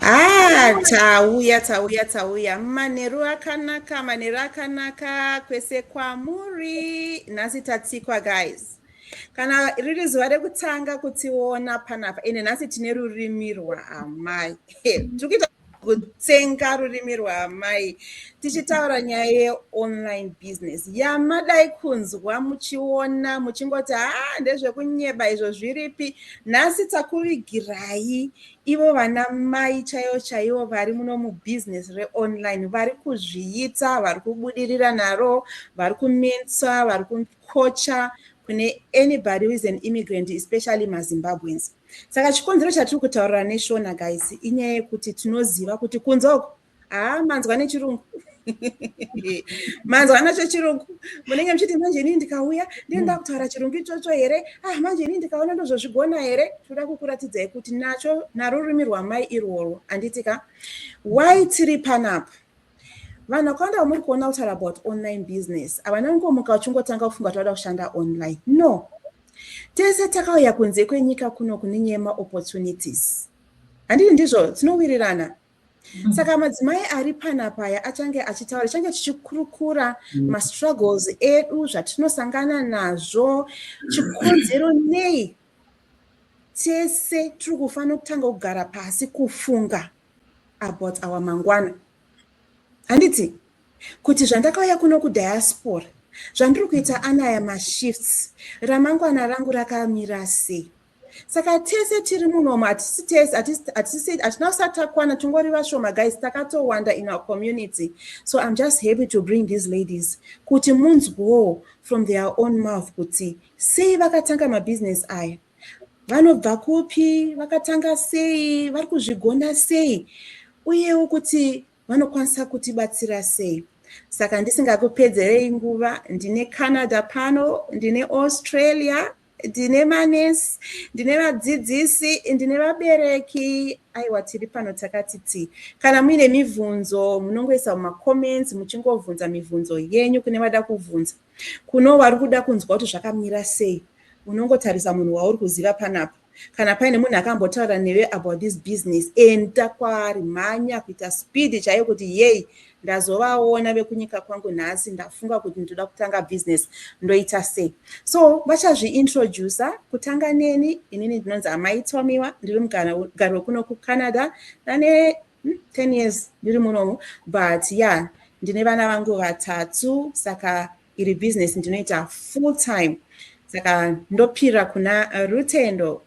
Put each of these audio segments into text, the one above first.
Ah, tauya tauya tauya manheru akanaka manheru akanaka kwese kwamuri nhasi tatsikwa guys kana riri zuva rekutanga kutiona panapa ende nhasi tine rurimi rwaamai tiri kuita kutsenga rurimi rwaamai tichitaura nyaya yeonline business yamadai kunzwa muchiona muchingoti haa ndezvekunyeba izvo zviripi nhasi takuvigirai ivo vana mai chaivo chaivo vari muno mubusiness reonline vari kuzviita vari kubudirira naro vari kumensa vari kukocha kune anybody who is an immigrant especially mazimbabweans Saka chikonzero chatiri kutaurira neshona guys inyaya yekuti tinoziva kuti kunze uko haa manzwa nechirungu manzwa nacho chirungu munenge muchiti manje inini ndikauya ndini ndakutaura chirungu ichocho here ah manje inini ndikaona ndozvozvigona here tinoda kukuratidzai kuti nacho narurimi rwamai irworwo handiti ka why tiri panapa vanhu vakawanda vamuri kuona kutaura about online business havana kungomuka vachingotanga kufunga kuti vada kushanda online no tese takauya kunze kwenyika kuno kune nyaya yemaopportunities handiti ndizvo tinowirirana mm. saka madzimai ari panapaya achange achitaura change tichikurukura mm. mastruggles edu zvatinosangana nazvo chikonzero nei tese tiri kufanira kutanga kugara pasi kufunga about our mangwana handiti kuti zvandakauya kuno kudiaspora zvandiri kuita anaya mashifts ramangwana rangu rakamira sei saka tese tiri munomo hatisi tese hatina kusati takwana tingori vashoma guys takatowanda in our community so im just happy to bring these ladies kuti munzwewo from their own mouth kuti sei vakatanga mabusiness aya vanobva kupi vakatanga sei vari kuzvigona sei uyewo kuti vanokwanisa kutibatsira sei saka ndisingakupedzerei nguva ndine canada pano ndine australia ndine manesi ndine vadzidzisi ndine vabereki aiwa tiri pano takati ti kana muine mibvunzo munongoisa mumacomments muchingobvunza mibvunzo yenyu kune vada kubvunza Kuno wari kuda kunzwa kuti zvakamira sei, unongotarisa munhu wauri kuziva panapa. Kana paine munhu akambotaura newe about this business, enda kwaari, mhanya kuita speed chaiyo kuti yei, ndazovaona vekunyika kwangu nhasi, ndafunga kuti ndoda kutanga business, ndoita sei? So vachazviintroducer kutanga neni, inini ndinonzi Amai Tomiwa, ndiri mugari wekuno kuCanada, ndane Hmm, 10 years ndiri munomu but ya yeah, ndine vana vangu vatatu saka iri business ndinoita full time saka ndopira kuna rutendo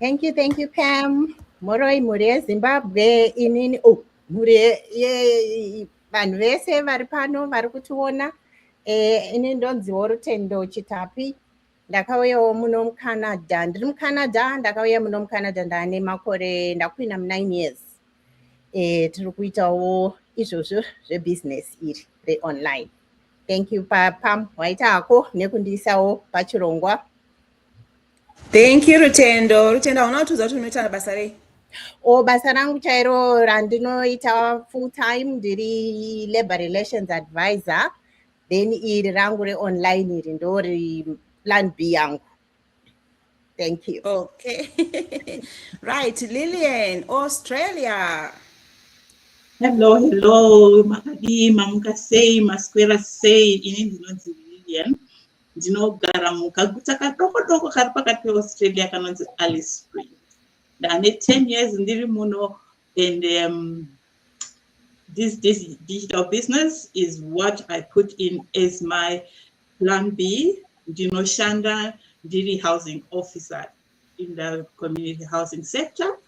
thank you thank you pam moroi mhuri yezimbabwe inini oh, mhuri vanhu vese vari pano vari kutiona eh, ini ndonziwo rutendo chitapi ndakauyawo muno mucanada ndiri mucanada ndakauya muno mucanada ndane makore ndakuina munine years um tiri kuitawo izvozvo zvebusiness iri reonline thank you papam waita hako nekundiisawo pachirongwa thank you rutendo rutendo hauna kutiudza kuti unoita basa rei o oh, basa rangu chairo randinoita full time ndiri labor relations advisor then iri rangu reonline iri ndori plan b yangu thank you okay right lillian australia hello hello makadii mamuka sei maswera sei ini ndinonzi lillian ndinogara mukaguta kadoko doko kari pakati peaustralia kanonzi alice spring ndane ten years ndiri muno And um, this, this digital business is what I put in as my plan B. Ndinoshanda ndiri housing officer in the community housing sector.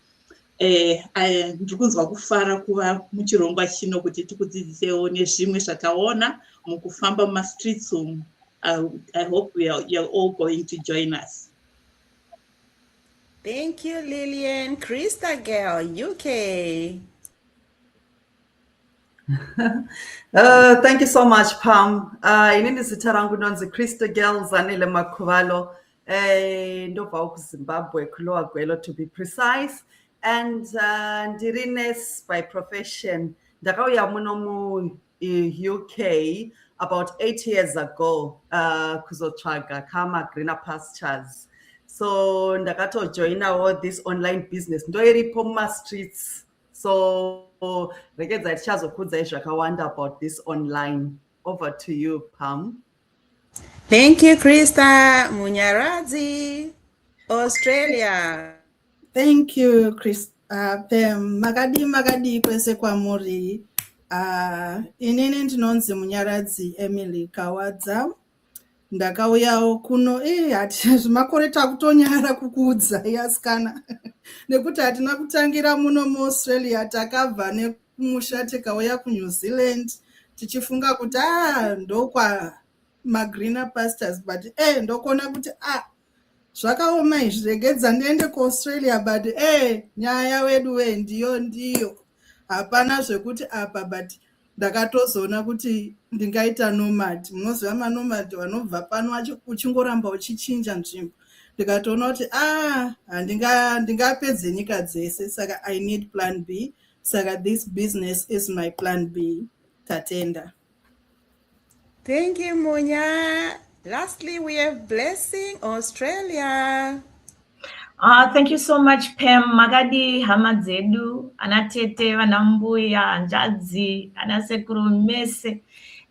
Eh, eh, ndiri kunzwa kufara kuva muchirongwa chino kuti tikudzidzisewo nezvimwe zvataona mukufamba mumastreets umu. I, I hope we are, you're all going to join us. Thank you, Lillian. Krista girl, UK. uh, thank you so much, Pam. Uh, inini zita rangu ndonzi Krista girl Zanele Makhuvalo. Eh, ndobva kuzimbabwe kulowa gwelo to be precise and uh, ndiri nurse by profession ndakauya muno mu UK about eight years ago uh, kuzotsvaga kama greener pastures so ndakatojoinawo this online business ndoiripo mumastreets so rekedza tichazokudzai zvakawanda about this online over to you pam thank you krista munyaradzi australia Thank you Chris uh, Pam makadii makadii kwese kwamuri uh, inini ndinonzi Munyaradzi Emily Kawadza ndakauyawo kuno eh hati zvimakore takutonyara kukuudza yasikana nekuti hatina kutangira muno muAustralia takabva nekumusha tikauya kuNew Zealand tichifunga kuti ah ndokwa magreener pastors but eh ndokona kuti ah zvakaoma izvi regedza ndiende kuaustralia but e eh, nyaya wedu we ndiyo ndiyo hapana zvekuti apa but ndakatozoona kuti ndingaita nomad munoziva manomad vanobva pano uchingoramba uchichinja nzvimbo ndikatoona kuti a ah, handingapedze nyika dzese saka i need plan b saka this business is my plan b tatenda Thank you, Munya. Lastly, we have Blessing Australia. Uh, thank you so much Pam makadi hama dzedu ana tete vana mbuya hanzvadzi ana sekuru mese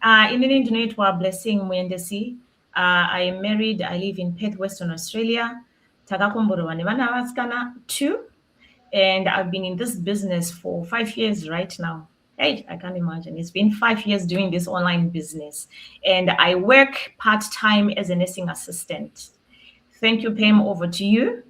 uh, inini ndinoitwa Blessing Muendesi uh, I am married I live in Perth Western Australia takakomborerwa nevana vasikana two and I've been in this business for five years right now Hey, I can't imagine. It's been five years doing this online business, and I work part time as a nursing assistant. Thank you, Pam. Over to you.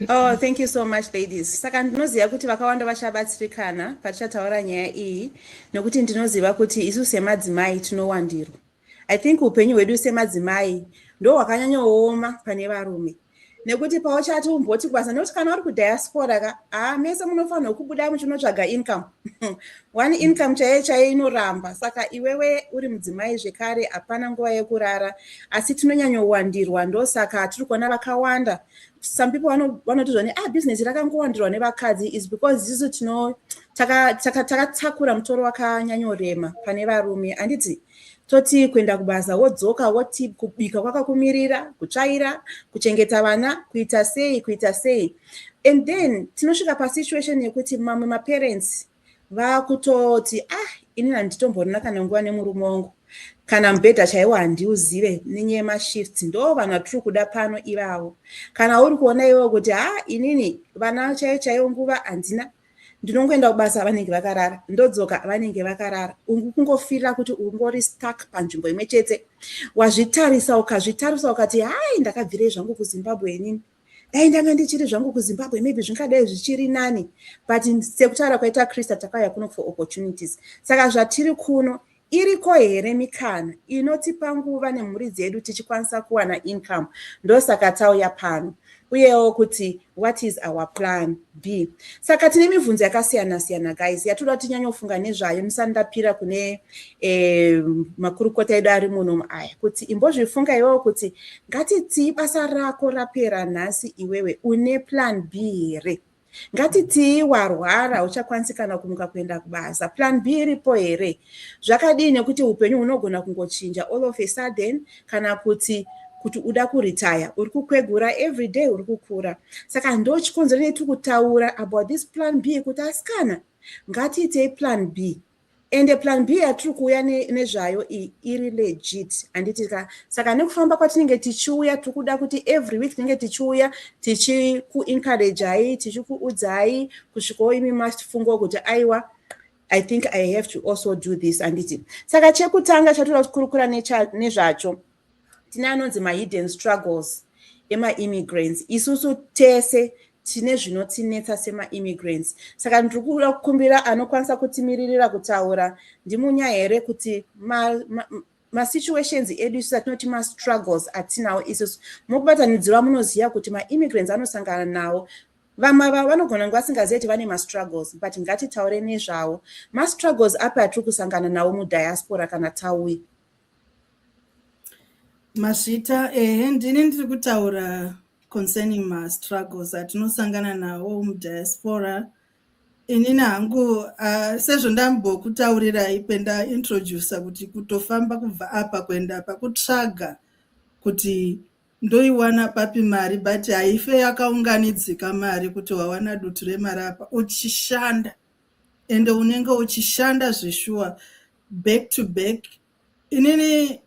Oh, thank you so much ladies. Saka ndinoziva kuti vakawanda vachabatsirikana patichataura nyaya iyi nokuti ndinoziva kuti isu semadzimai tinowandirwa. I think upenyu hwedu semadzimai ndo hwakanyanyooma pane varume nekuti pauchati umboti kubasa nekuti kana uri kudiaspora ka haa ah, mese munofanirwa kubuda muchinotsvaga income one income chaiye chaiye inoramba saka iwewe uri mudzimai zvekare hapana nguva yekurara asi tinonyanyowandirwa ndosaka tiri kuona vakawanda some people vanoti zvani a ah, business rakangowandirwa nevakadzi is because isu tino takatakura taka, taka mutoro wakanyanyorema pane varume handiti toti kuenda kubasa wodzoka woti kubika kwakakumirira kutsvaira kuchengeta vana kuita sei kuita sei and then tinosvika pasituation yekuti mamwe maparents vakutoti ah ini handitomborina kana nguva nemurume wangu kana mubhedha chaiwo handiuzive nenyaya yemashift ndo vanhu vatiri kuda pano ivavo kana uri kuona iwewo kuti ha ah, inini vana chaiyo chaiyo nguva handina ndinongoenda kubasa vanenge vakarara ndodzoka vanenge vakarara ungu kungofirira kuti ungori stuck panzvimbo imwe chete wazvitarisa ukazvitarisa ukati hai ndakabvirei zvangu kuzimbabwe inini dai ndanga ndichiri zvangu kuzimbabwe maybe zvingadai zvichiri nani but sekutaura kwaita krista takauya kuno for opportunities saka zvatiri kuno Iriko here mikana inotipa nguva nemhuri dzedu tichikwanisa kuwana income ndosaka tauya pano uyewo kuti what is our plan b saka tine mibvunzo yakasiyana siyana guys yatoda kuti tinyanyofunga nezvayo musandapira kune eh, makurukota edu ari muno aya kuti imbozvifunga iwewo kuti ngatitii basa rako rapera nhasi iwewe une plan b here ngatitii warwara hauchakwanisi kana kumuka kuenda kubasa plan b iripo here zvakadii nekuti upenyu hunogona kungochinja all of a sudden kana kuti kuti uda kuretire uri kukwegura every day uri kukura saka ndo chikonzero netiri kutaura about this plan b yekuti asikana ngatiitei plan b ende plan b yatiri kuuya nezvayo iyi iri legit handiti ka saka nekufamba kwatinenge tichiuya tiri kuda kuti every week tinenge tichiuya tichikuencouragei tichikuudzai kusvikawo imi mafungwa kuti aiwa i think i have to also do this handiti saka chekutanga chatoda kukurukura nezvacho tine anonzi mahidden struggles emaimmigrants isusu tese tine zvinotinetsa semaimmigrants saka ndiri kuda kukumbira anokwanisa kutimiririra kutaura ndimunya here kuti masituations ma, ma edu isu atinoti mastruggles atinawo isusu mukubatanidzirwa munoziva kuti maimmigrants anosangana nawo vamwe vavo vanogona kunge vasingazivi kuti vane mastruggles but ngatitaure nezvavo mastruggles api atiri kusangana nawo mudiaspora kana tauya Mazvita, ehe ndini ndiri kutaura concerning mastruggles atinosangana nawo mudiaspora. Inini hangu uh, sezvo ndambokutaurirai pendaintroducer kuti kutofamba kubva apa kuenda apa kutsvaga kuti ndoiwana papi mari but haife yakaunganidzika mari kuti wawana dutu remari apa uchishanda. ende unenge uchishanda zveshuwa back to back inini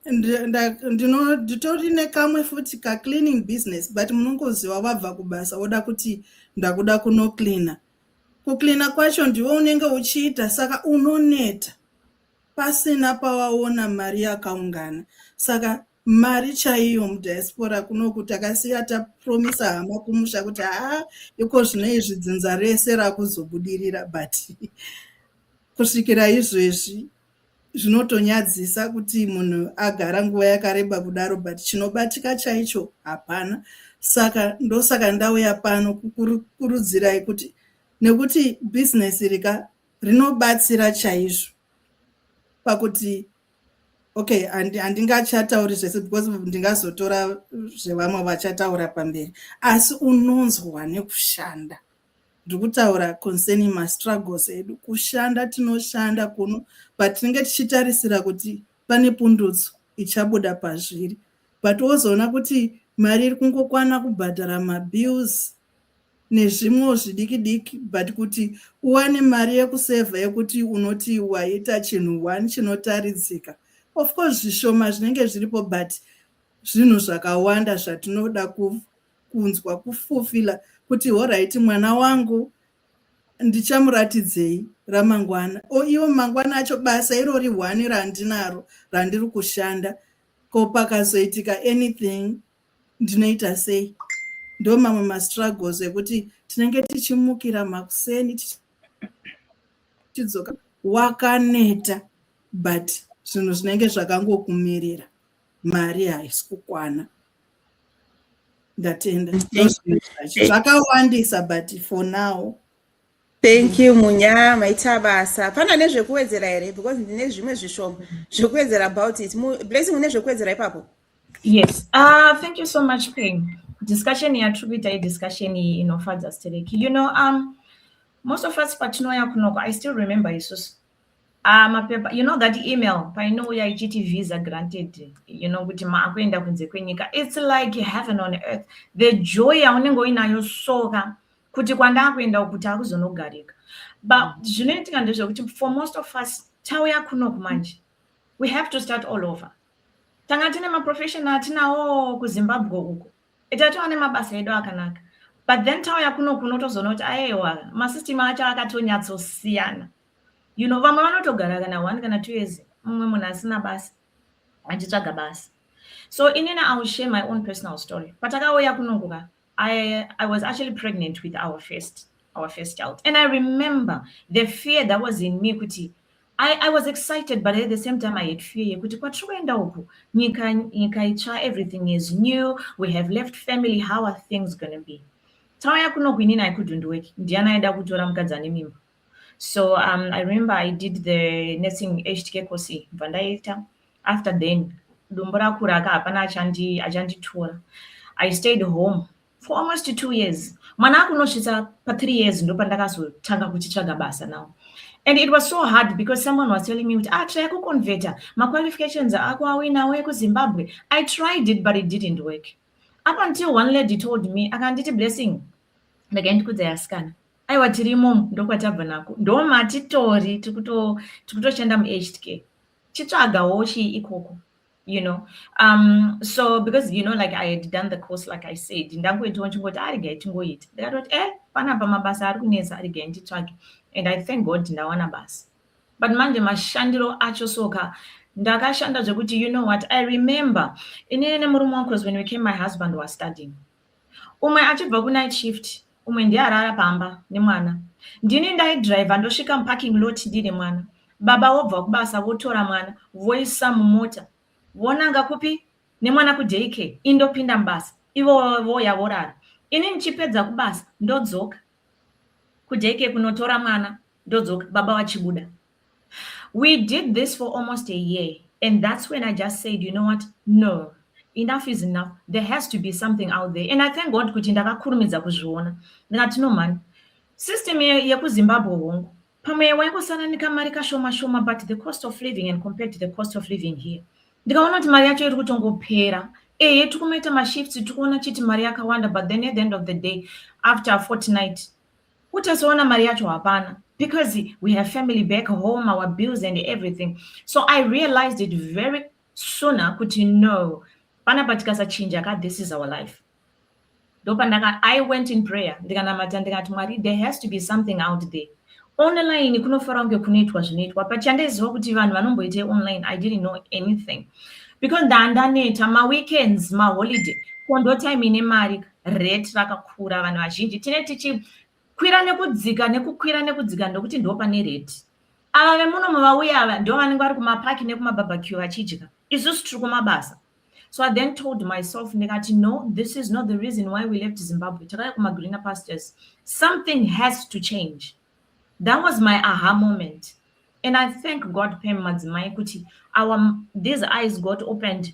nditori nekamwe futi kacleaning business but munongoziva vabva kubasa woda kuti ndakuda kunocleana kucleana kwacho ndiwe unenge uchiita saka unoneta pasina pawaona mari yakaungana saka mari chaiyo mudiaspora kunoku takasiya tapromisa hama kumusha kuti haa iko zvino izvi dzinza rese rakuzobudirira but kusvikira izvezvi zvinotonyadzisa kuti munhu agara nguva yakareba kudaro but chinobatika chaicho hapana saka ndosaka ndauya pano kukurudzirai kuti nekuti bhizinesi rika rinobatsira chaizvo pakuti okay handingachatauri zvese because ndingazotora zvevamwe vachataura pamberi asi unonzwa nekushanda ndiri kutaura concerning mastruggles edu kushanda tinoshanda kuno but tinenge tichitarisira kuti pane pundutso ichabuda pazviri but wozoona kuti mari iri kungokwana kubhadhara mabills nezvimwewo zvidiki diki but kuti uwane mari yekusevha yekuti unoti waita chinhu one chinotaridzika of course zvishoma zvinenge zviripo but zvinhu zvakawanda zvatinoda kunzwa kufufila kuti horaiti mwana wangu ndichamuratidzei ramangwana o iwo mangwana acho basa irori one randinaro randiri kushanda ko pakazoitika anything ndinoita sei ndo mamwe mastruggles ekuti tinenge tichimukira makuseni tichidzoka wakaneta but zvinhu zvinenge zvakangokumirira mari haisi kukwana ndatenda zvakawandisa but for now Thank you Munya, maita basa. Pana nezvekuwedzera here because ndine zvimwe zvishoma zvekuwedzera about it. Blessing une zvekuwedzera ipapo? Yes. Uh, thank you so much Peng. Discussion yatiri kuita idiscussion iyi inofadza stereki. You know, um, most of us patinouya kunoko, I still remember isusu Ah, mapepa you know that email painouya ichiti visa granted you know kuti maakuenda kunze kwenyika it's like heaven on earth the joy yaunenge uinayo soka kuti kwandakuenda uku kuti akuzonogarika but mm. zvinoitika ndezvekuti for most of us tauya kunoku manje we have to start all over tanga tine maprofessional atinawo kuzimbabwe uko itatova nemabasa edu akanaka but then tauya kunoku unotozoona kuti aewa masystem acho akatonyatsosiyana you know vamwe vanotogara kana one kana two years mumwe munhu asina basa achitsvaga basa so inini iwill share my own personal story patakauya kunonguka I, I was actually pregnant with our first our first child. And I remember the fear that was in me kuti I, I was excited but at the same time I had fear yekuti kwatiri kuenda uku nyika nyika itsva everything is new we have left family how are things gonna be tauya kunoku inini I couldn't work ndiani aida kutora mukadzi ane mimba so um, i remember i did the nursing htk course bva ndaita after then dumbu rakuraka hapana achandi achanditora i stayed home for almost two years mwana akunosvitsa pathree years ndopandakazotanga kuchitsvaga basa now and it was so hard because someone was telling me kuti ah try kuconverta maqualifications ako awinawo ekuzimbabwe i tried it but it didn't work up until one lady told me akanditi blessing ndakaendikudza yasikana aiwa tiri imomo ndokwatabva nako ndomatitori tikutoshanda muaged care chitsvagawo chii ikoko you know um so because you know like i had done the course like i said ndangoitawo chingoti arigai ah, tingoita ndikatoti e eh, panapa mabasa ari kunetsa arigai nditsvage and i thank god ndawana basa but manje mashandiro acho soka ndakashanda zvekuti you know what i remember inini nemurume wangu because when we came my husband was studying Umwe achibva kunight shift, umwe ndiye arara pamba nemwana. Ndini ndaidriver ndosvika muparking lot ndine mwana. Baba wobva kubasa votora mwana voisa mumota vonanga kupi nemwana kudaycare indopinda mubasa ivo voya vorara ini ndichipedza kubasa ndodzoka kudaycare kunotora mwana ndodzoka baba vachibuda We did this for almost a year and that's when I just said, you know what? No. Enough is enough. There has to be something out there. And I thank God kuti ndakakurumidza kuzviona. Ndikati no man. System yekuZimbabwe hongu. Pamwe waingosananika mari kashoma shoma but the cost of living and compared to the cost of living here. Ndikaona kuti mari yacho iri kutongopera. Ehe tikumaita mashifts tikuona chiti mari yakawanda but then at the end of the day after a fortnight utozoona mari yacho hapana because we have family back home our bills and everything so i realized it very sooner kuti no panapa tikasachinja ka this is our life ndopandaka i went in prayer ndikanamata ndikati mwari there has to be something out there online kunofara kunge kunoitwa zvinoitwa but chandaiziva kuti vanhu vanomboitei online i didn't know anything because ndandaneta maweekends maholiday kondotime ine mari rate rakakura vanhu vazhinji tine tichikwira nekudzika nekukwira nekudzika ndokuti ndo pane rate ava vemuno mavauya ava ndo vanenge vari kumapaki nekumabarbecue vachidya isusu tiri kumabasa so i then told myself ndikati no this is not the reason why we left zimbabwe takaya kumagreener pastures something has to change that was my aha moment and i thank god pam madzimai kuti our these eyes got opened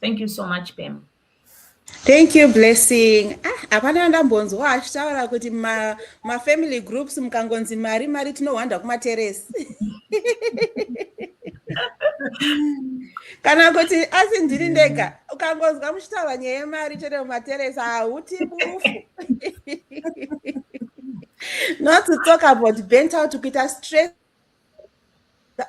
thank you so much pam thank you blessing ah, hapana ah, ndambonzwa achitaura kuti mafamily ma groups mukangonzi mari mari tinohwanda kumateresi kana kuti asi ndiri ndega ukangonzwa muchitaura nyaya yemari chete mumateresi hauti bufu not to talk about bent out kuita stress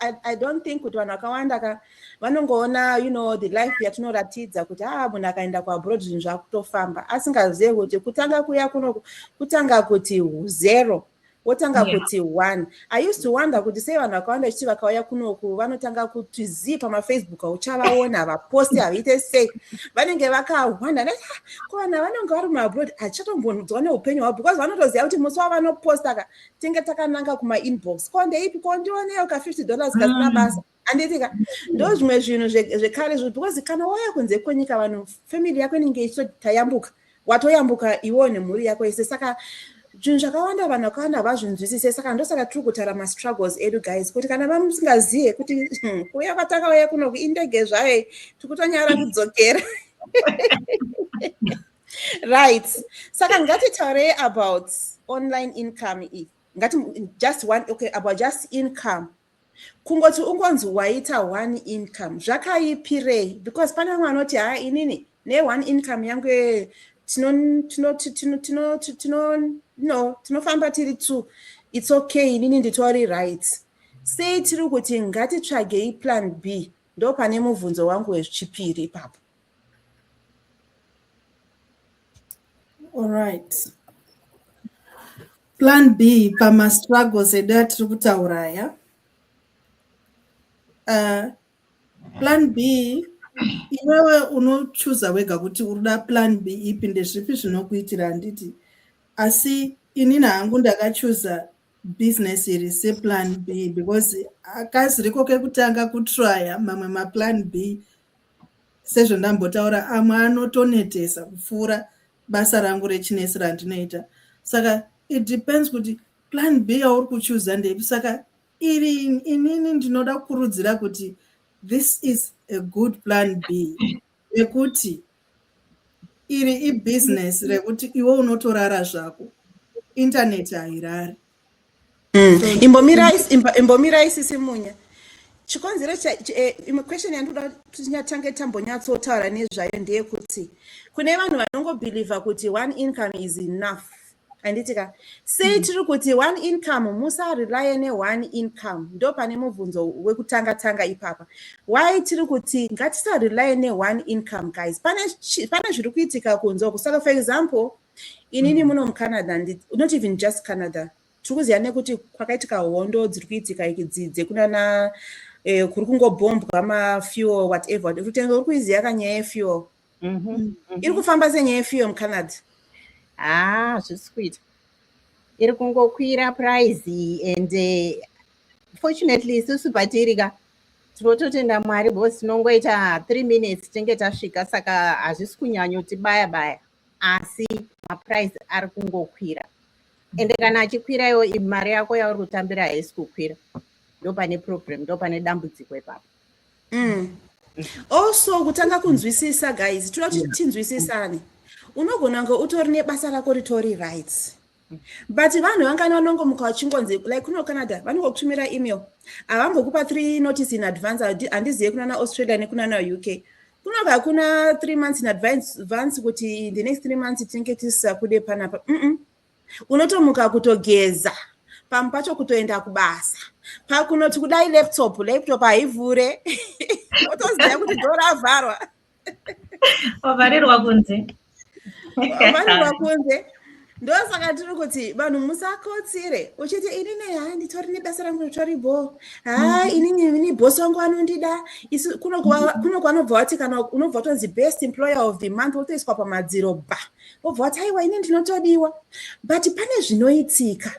I, I don't think kuti vanhu vakawanda ka vanongoona you know the life yatinoratidza kuti a ah, munhu akaenda kuabroad zvinhu zvakutofamba asingazive kuti kutanga kuya kuno kutanga kuti zero wotanga yeah. kuti one i used to wonder kuti sei vanhu vakawanda vachiti vakauya kunoku vanotanga kuti zii pamafacebook auchavaona havaposti havaite sei vanenge vakahwanda ah, ko vanhu vanenge vari muabroad hatichatombonzwa neupenyu hwavo because vanotoziva kuti musi wavanoposta ka tinge takananga kuma inbox ko ndeipi ko ndioneyo ka 50 dollars kasina mm. basa anditika ndo zvimwe zvinhu zvekare zvo because kana wauya kunze kwenyika vanhu family yako inenge ichitayambuka watoyambuka iwo nemhuri yako yese saka zvinhu zvakawanda vanhu vakawanda havazvinzwisise saka ndosaka tiri kutara mastruggles edu guys kuti kana vamusingazive kuti hmm, kuya kwatakauya kunoku indege zvayo tiri kutonyara kudzokera right saka ngatitaurei about online income iyi ngati just one okay about just income kungoti ungonzi waita one income zvakaipirei because pane vamwe vanoti haa inini neone income yangu tinofamba tiri two its okay inini nditori right sei tiri kuti ngatitsvagei plan b ndo pane mubvunzo wangu wechipiri ipapo Alright. Plan B pamastruggles edu atiri kutaura aya. Uh, plan B iwewe unochuza wega kuti urida plan B ipi ndezvipi zvinokuitira handiti asi inini hangu ndakachuza business iri seplan B because akasiriko kekutanga kutraya mamwe maplan B sezvandambotaura amwe anotonetesa kupfuura basa rangu rechinesi randinoita saka it depends kuti plan b yauri kuchuza ndepi saka iri inini ndinoda kukurudzira kuti this is a good plan b yekuti iri ibusiness rekuti iwe unotorara zvako intaneti hairari Mm. imbomirai sisi munya chikonzero eh, imwe question yandoda tinyatange tambonyatsotaura nezvayo ndeyekuti kune vanhu vanongobhilivha kuti one income is enough anditika sei mm. tiri kuti one income musarelye neone income ndo pane mubvunzo wekutanga tanga ipapa why tiri kuti ngatisarelye neone income guys pane zviri kuitika kunzwa kusaka for example Inini muno muCanada, not even just Canada, tiri kuziva nekuti kwakaitika hondo dziri kuitika ikidzi dzekunana eh, kuri kungobhombwa mafuel whatever rutendo uri kuiziva ka nyaya yefuel mhm, mm. mhm. iri kufamba senyaya yefuel mucanada haa ah, zvisi kuita iri kungokwira prize and eh, fortunately isusu patiri ka tinototenda mwari bcause tinongoita three minutes tinge tasvika saka hazvisi kunyanyotibaya baya, baya. asi maprice ari kungokwira ende kana achikwira iwo mari yako yauri kutambira haisi kukwira ndopane problem ndopane dambudziko ipapo mm. also kutanga kunzwisisa guys toda kuti tinzwisisane unogona kunge utori nebasa rako ritori rights but vanhu vangani vanongomuka vachingonzi like kuno canada vanongokutumira email havambokupa three notice in advance handizive kunana australia nekunana uk kuno kakuna three months in advance kuti the next three months tinenge tisisakude panapa mm -mm. unotomuka kutogeza pamwe pacho kutoenda kubasa pakunoti kudai laptop laptop haivhure otoziva kuti doravharwa wavharirwa kunze wavharirwa kunze ndosaka tiri kuti vanhu musakotsire uchiti inini haa nditori nebasa rangu ritori bho haa mm. inini ini bhosi wangu anondida isu kuno kwanobva wati kana unobva watonzi best employer of the month wotoiswa pamadziro ba wobva wati aiwa ini ndinotodiwa but pane zvinoitika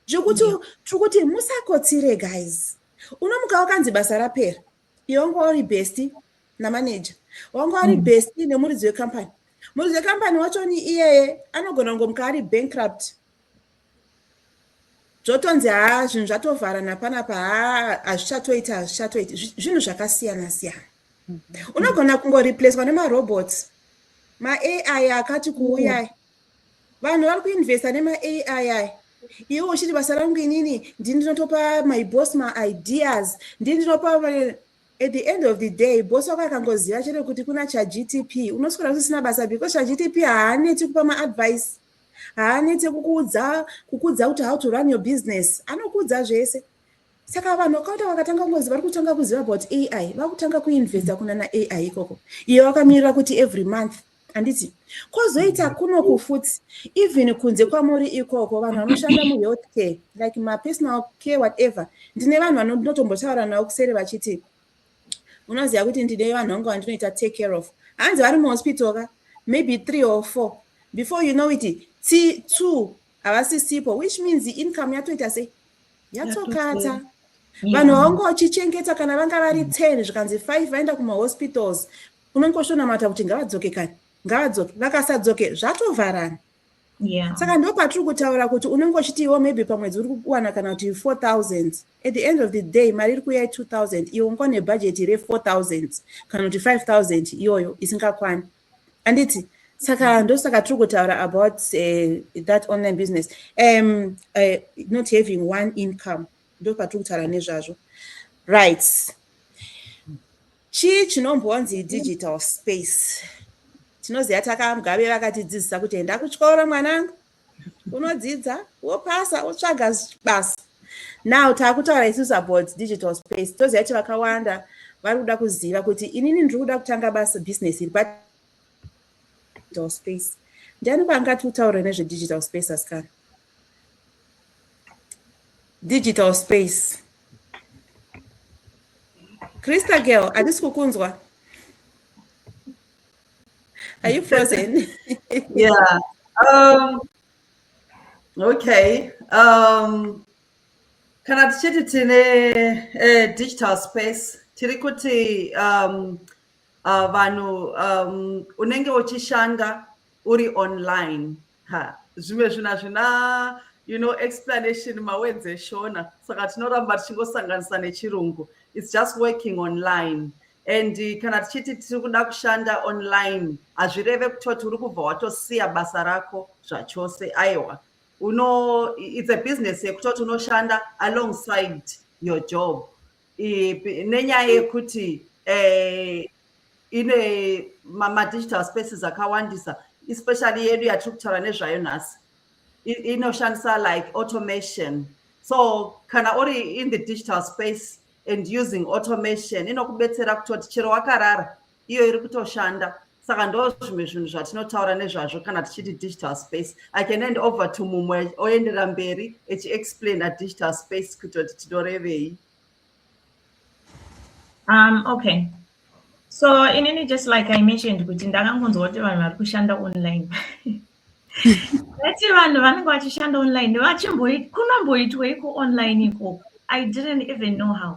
zvekuti tiri kuti musakotsire guys unomuka wakanzi basa rapera Iwe wanga uri besti namanager wanga uri mm. besti nemuridzi wecompany muridzi wecompany wacho ni iyeye anogona kungomuka ari bankrupt zvotonzi haa zvinhu zvatovharana panapa haa hazvichatoiti hazvichatoiti zvinhu zvakasiyana siyana mm-hmm. unogona kungoreplacwa nemarobots maai akati kuuyai vanhu vari kuinvesta nemaai iwe uchiti basa rangu inini ndini ndinotopa my boss maideas ndini ndinopa at the end of the day boss wako akangoziva chete kuti kuna chagtp unoswera usisina basa because chagtp haaneti kupa maadvice haaneti kukuudza kukuudza kuti how to run your business anokuudza zvese saka vanhu vakaita vakatanga kungozi vari kutanga kuziva about ai vakutanga kuinvesta kunana ai ikoko iye wakamirira kuti every month handiti kwozoita kuno kufuti even kunze kwamuri ikoko vanhu vanoshanda muhealth care like mapersonal care whatever ndine vanhu vanotombotaura navo kuseri vachiti unoziva kuti ndine vanhu vangu vandinoita take care of hanzi vari muhospital ka maybe three or four before you know it t two havasisipo which means income yatoita sei yatokata vanhu vaunga vachichengeta kana vanga vari ten zvikanzi five vaenda kumahospitals unongoshonamata kuti ngavadzoke kani ngavadzoke vakasadzoke zvatovharana yeah. saka ndo patiri kutaura kuti unenge uchiti iwo maybe pamwedzi uri kuwana kana kuti 4000 at the end of the day mari iri kuya 2000 iwo unga une bhajeti re4000 kana kuti 5000 iyoyo isingakwani anditi saka ndosaka tiri kutaura about uh, that online business um, uh, not having one income ndo patiri kutaura nezvazvo rights Chii chinombonzi digital space? Tinoziva takamgabe vakatidzidzisa kuti enda kuchikoro mwanangu, unodzidza, wopasa, wotsvaga basa. Now takutaura isusu about digital space. Toziva kuti vakawanda vari kuda kuziva kuti inini ndiri kuda kutanga basa business iri pa digital space. Ndiani kwaangati utaure nezvedigital space asikana? digital space Krista girl, hatisi kukunzwa. Are you frozen? yeah. Um, okay. Um, kana tichiti tine eh, digital space tiri kuti um, uh, vanhu um, unenge uchishanda uri online ha zvimwe zvinhu hazvina you know explanation mawords eshona saka tinoramba tichingosanganisa nechirungu its just working online and eh, kana tichiti tiri kuda kushanda online hazvireve kutoti uri kubva watosiya basa rako zvachose aiwa uno its a business yekutoti unoshanda alongside your job nenyaya yekuti eh, ine madigital spaces akawandisa especially yedu yatiri kutaura nezvayo nhasi inoshandisa like automation so kana uri in the digital space and using automation inokubetsera kutoti chero wakarara iyo iri kutoshanda saka ndo zvimwe zvinhu zvatinotaura nezvazvo kana tichiti digital space i can end over to mumwe oendera mberi echiexplaina digital space kutoti tinorevei um okay so inini just like i mentioned kuti ndakangonzwa kuti vanhu vari kushanda online vati vanhu vanenge vachishanda online vachimbokunomboitweiko online ikoko i didn't even know how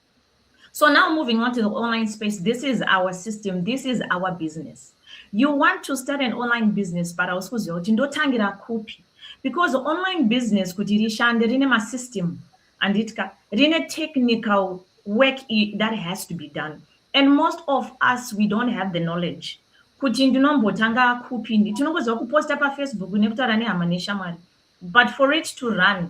So now moving on to the online space, this is our system, this is our business. You want to start an online business, but hausi kuziva kuti ndotangira kupi because online business kuti rishande rine masystem handitya rine technical work that has to be done and most of us we don't have the knowledge kuti ndinombotanga kupi tinongoziva kuposta pafacebook nekutaura nehama neshamwari but for it to run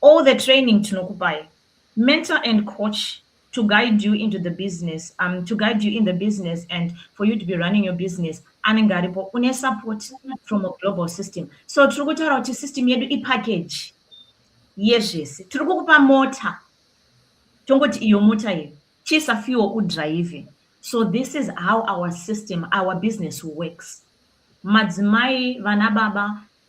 All the training tinokupai. Mentor and coach to guide you into the business, um, to guide you in the business and for you to be running your business anenge aripo une support from a global system so tiri kutaura kuti system yedu ipackage yezvese tiri kukupa mota tongoti iyo mota iyo chisa fuel udrive so this is how our system our business works madzimai vana baba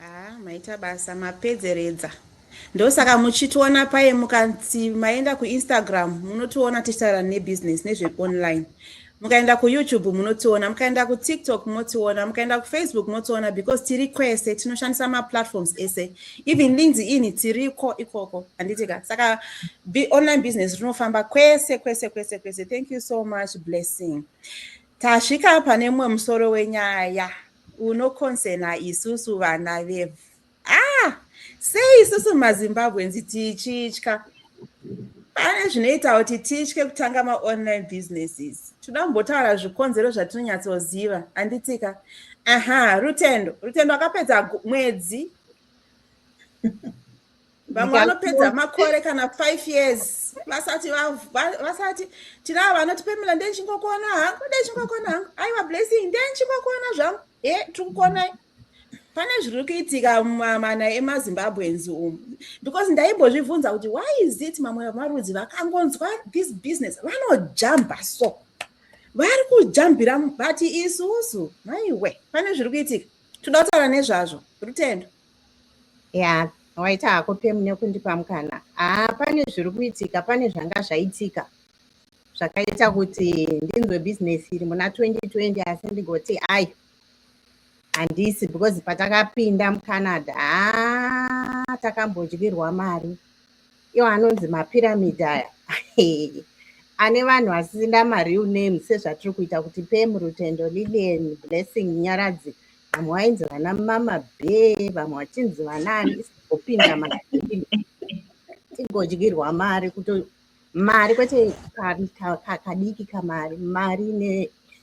Haa ah, maita basa mapedzeredza ndosaka muchitiona paye mukanzi maenda kuinstagram munotiona tichitaura nebusiness nezveonline mukaenda kuyoutube munotiona mukaenda kutiktok motiona mukaenda kufacebook motiona because tiri kwese tinoshandisa maplatforms ese even linzi ini tiriko ikoko handitika saka online business rinofamba kwese kwese kwese kwese thank you so much blessing tasvika pane mumwe musoro wenyaya yeah. Uno concerner isusu vana vevhu. Ah! Sei isusu maZimbabweans tichitya? Pane zvinoita kuti titye kutanga maonline businesses. Toda kumbotaura zvikonzero zvatinonyatsoziva, handitika? Aha, Rutendo. Rutendo akapedza mwedzi. vamwe vanopedza makore kana five years vasati vasati tinavo vanoti pamela ndee chingokona hangu ndee chingokona hangu aiwa blessing ndee chingokona zvangu e tiri kukonai pane zviri kuitika mumamana emazimbabweans umu because ndaimbozvibvunza kuti why is it mamwe vemarudzi vakangonzwa this business vanojamba so vari kujambira vati isusu maiwe pane zviri kuitika toda kutaura nezvazvo rutendo ya waita hako pemu nekundipa mukana haa ah, pane zviri kuitika pane zvanga zvaitika zvakaita kuti ndinzwe bhizinesi iri muna 2020 asi ndigoti ayi handisi because patakapinda mucanada haa ah, takambodyirwa mari iwo anonzi mapiramidi aya ane vanhu vasina mareal name sezvatiri kuita kuti pemu rutendo lilian blessing nyaradzi vamwe vainzi vana mama be vamwe vachinzi vanaani opinda ma tigodyirwa mari kuto mari kwete kadiki kamari mari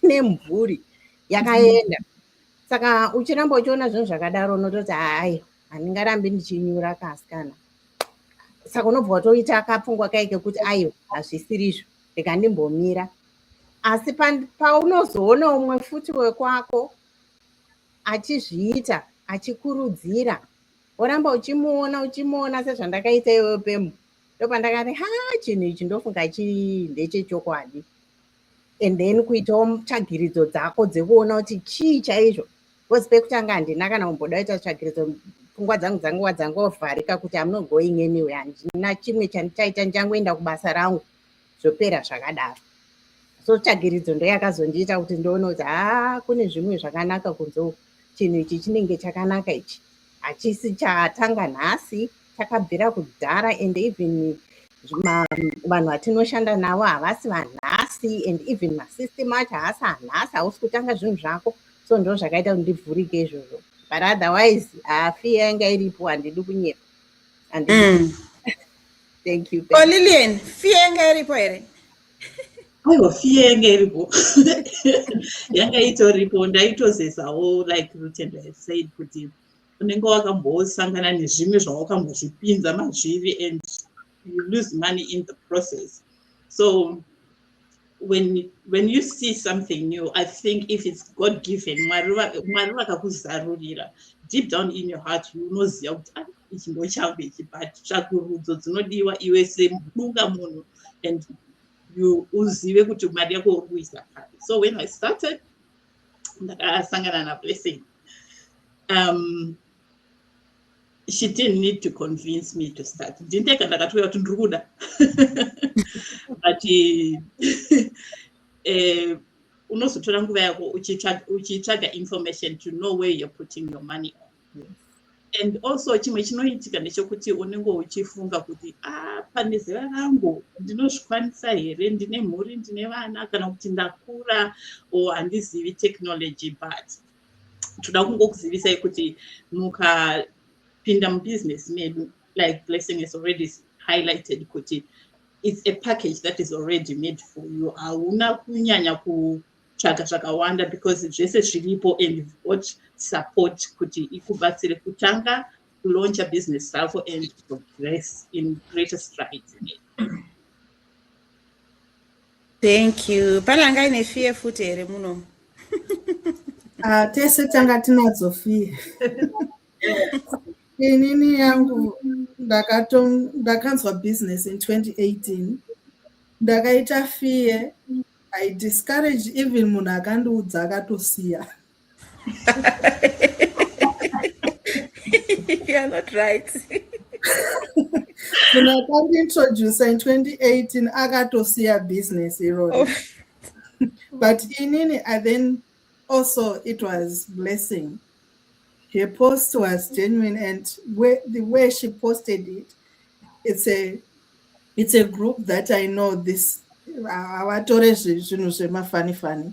nemhuri yakaenda saka uchiramba uchiona zvinhu zvakadaro unototi hayi handingarambi ndichinyura kasikana saka unobva watoita kapfungwa kai kekuti aiwa hazvisirizvo reka ndimbomira asi paunozoona umwe futi wekwako achizviita achikurudzira woramba uchimuona uchimuona sezvandakaita iwewe pemu ndopandakati ha chinhu ichi ndofunga chi ndechechokwadi and then kuitawo tsvagiridzo dzako dzekuona kuti chii chaizvo bcause pekutanga handina kana kumboda kuita tsvagiridzo pfungwa dzangu dzanguva dzangovharika kuti amno going anyway handina chimwe chandichaita ndichangoenda kubasa rangu zvopera zvakadaro so tsvagiridzo ndoyakazondiita kuti ndoona kuti haa kune zvimwe zvakanaka kunze uku chinhu ichi chinenge chakanaka ichi hachisi chatanga nhasi chakabvira kudhara and even vanhu vatinoshanda navo havasi vanhasi and even masystem acho haasi anhasi hausi kutanga zvinhu zvako so ndo zvakaita kuti ndivhurike izvozvo but otherwise hafi yanga iripo handidi kunyepa handii mm. Thank you. Thank oh, Lillian, fear yanga iripo here? Aiwa, fear yanga iripo. Yanga itoripo, ndaitozesawo like Rutendo had said kuti unenge wakambosangana nezvimwe zvawakambozvipinza mazviri and you lose money in the process. So when when you see something new i think if it's god given mwari vakakuzarurira deep down in your heart unoziva kuti ah, ichi ndo changu ichi but tsvakurudzo dzinodiwa iwe semudunga munhu and you uzive kuti mari yako uri kuisa pari so when i started ndakasangana nablessing um, she didn't need to convince me to start ndindega ndakatoya kuti ndiri kuda but eh, unozotora nguva yako uchitsvaga information to know where you're putting your money on and also chimwe chinoitika ndechokuti unenge uchifunga kuti a ah, pane zera rangu ndinozvikwanisa here ndine mhuri ndine vana kana kuti ndakura or handizivi technology but toda kungokuzivisai kuti mukapinda mubusiness medu like blessing has already highlighted kuti it's a package that is already made for you hauna kunyanya kutsvaga zvakawanda because zvese zviripo and you've got support kuti ikubatsire kutanga kulauncha business rako and progress in greater strides thank you pane anga ine fear futi here munomu ah, tese tanga tinadzo fear inini yangu ndakanzwa business in 2018 ndakaita fear i discourage even munhu akandiudza akatosiya you are not right munhu akandiintroducer in 2018 akatosiya business iroro oh. but inini i then also it was blessing her post was genuine and where, the way she posted it it's a it's a group that i know this havatore zvinhu zvemafanifani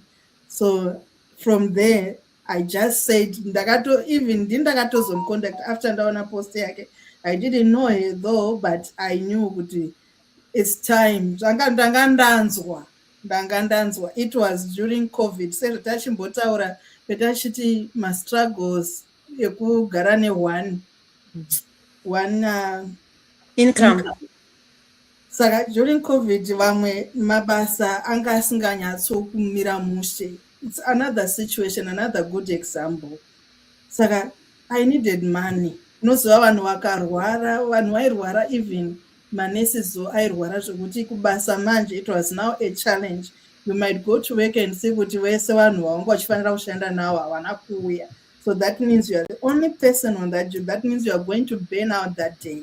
so from there i just said ndakato even ndi ndakatozomcontact after ndaona post yake i didn't know her though but i knew kuti its time zvanga ndanga ndanzwa ndanga ndanzwa it was during covid sezvatachimbotaura petachiti mastruggles ekugara neone one uh, income, income. Saka during covid vamwe mabasa anga asinganyatsokumira mushe. It's another situation, another good example. Saka I needed money. Unoziva vanhu vakarwara, vanhu vairwara even manurses zo airwara zvekuti kubasa manje it was now a challenge. You might go to work and see kuti vese vanhu vawanga vachifanira kushanda navo havana kuuya. So that means you are the only person on that job. That means you are going to burn out that day.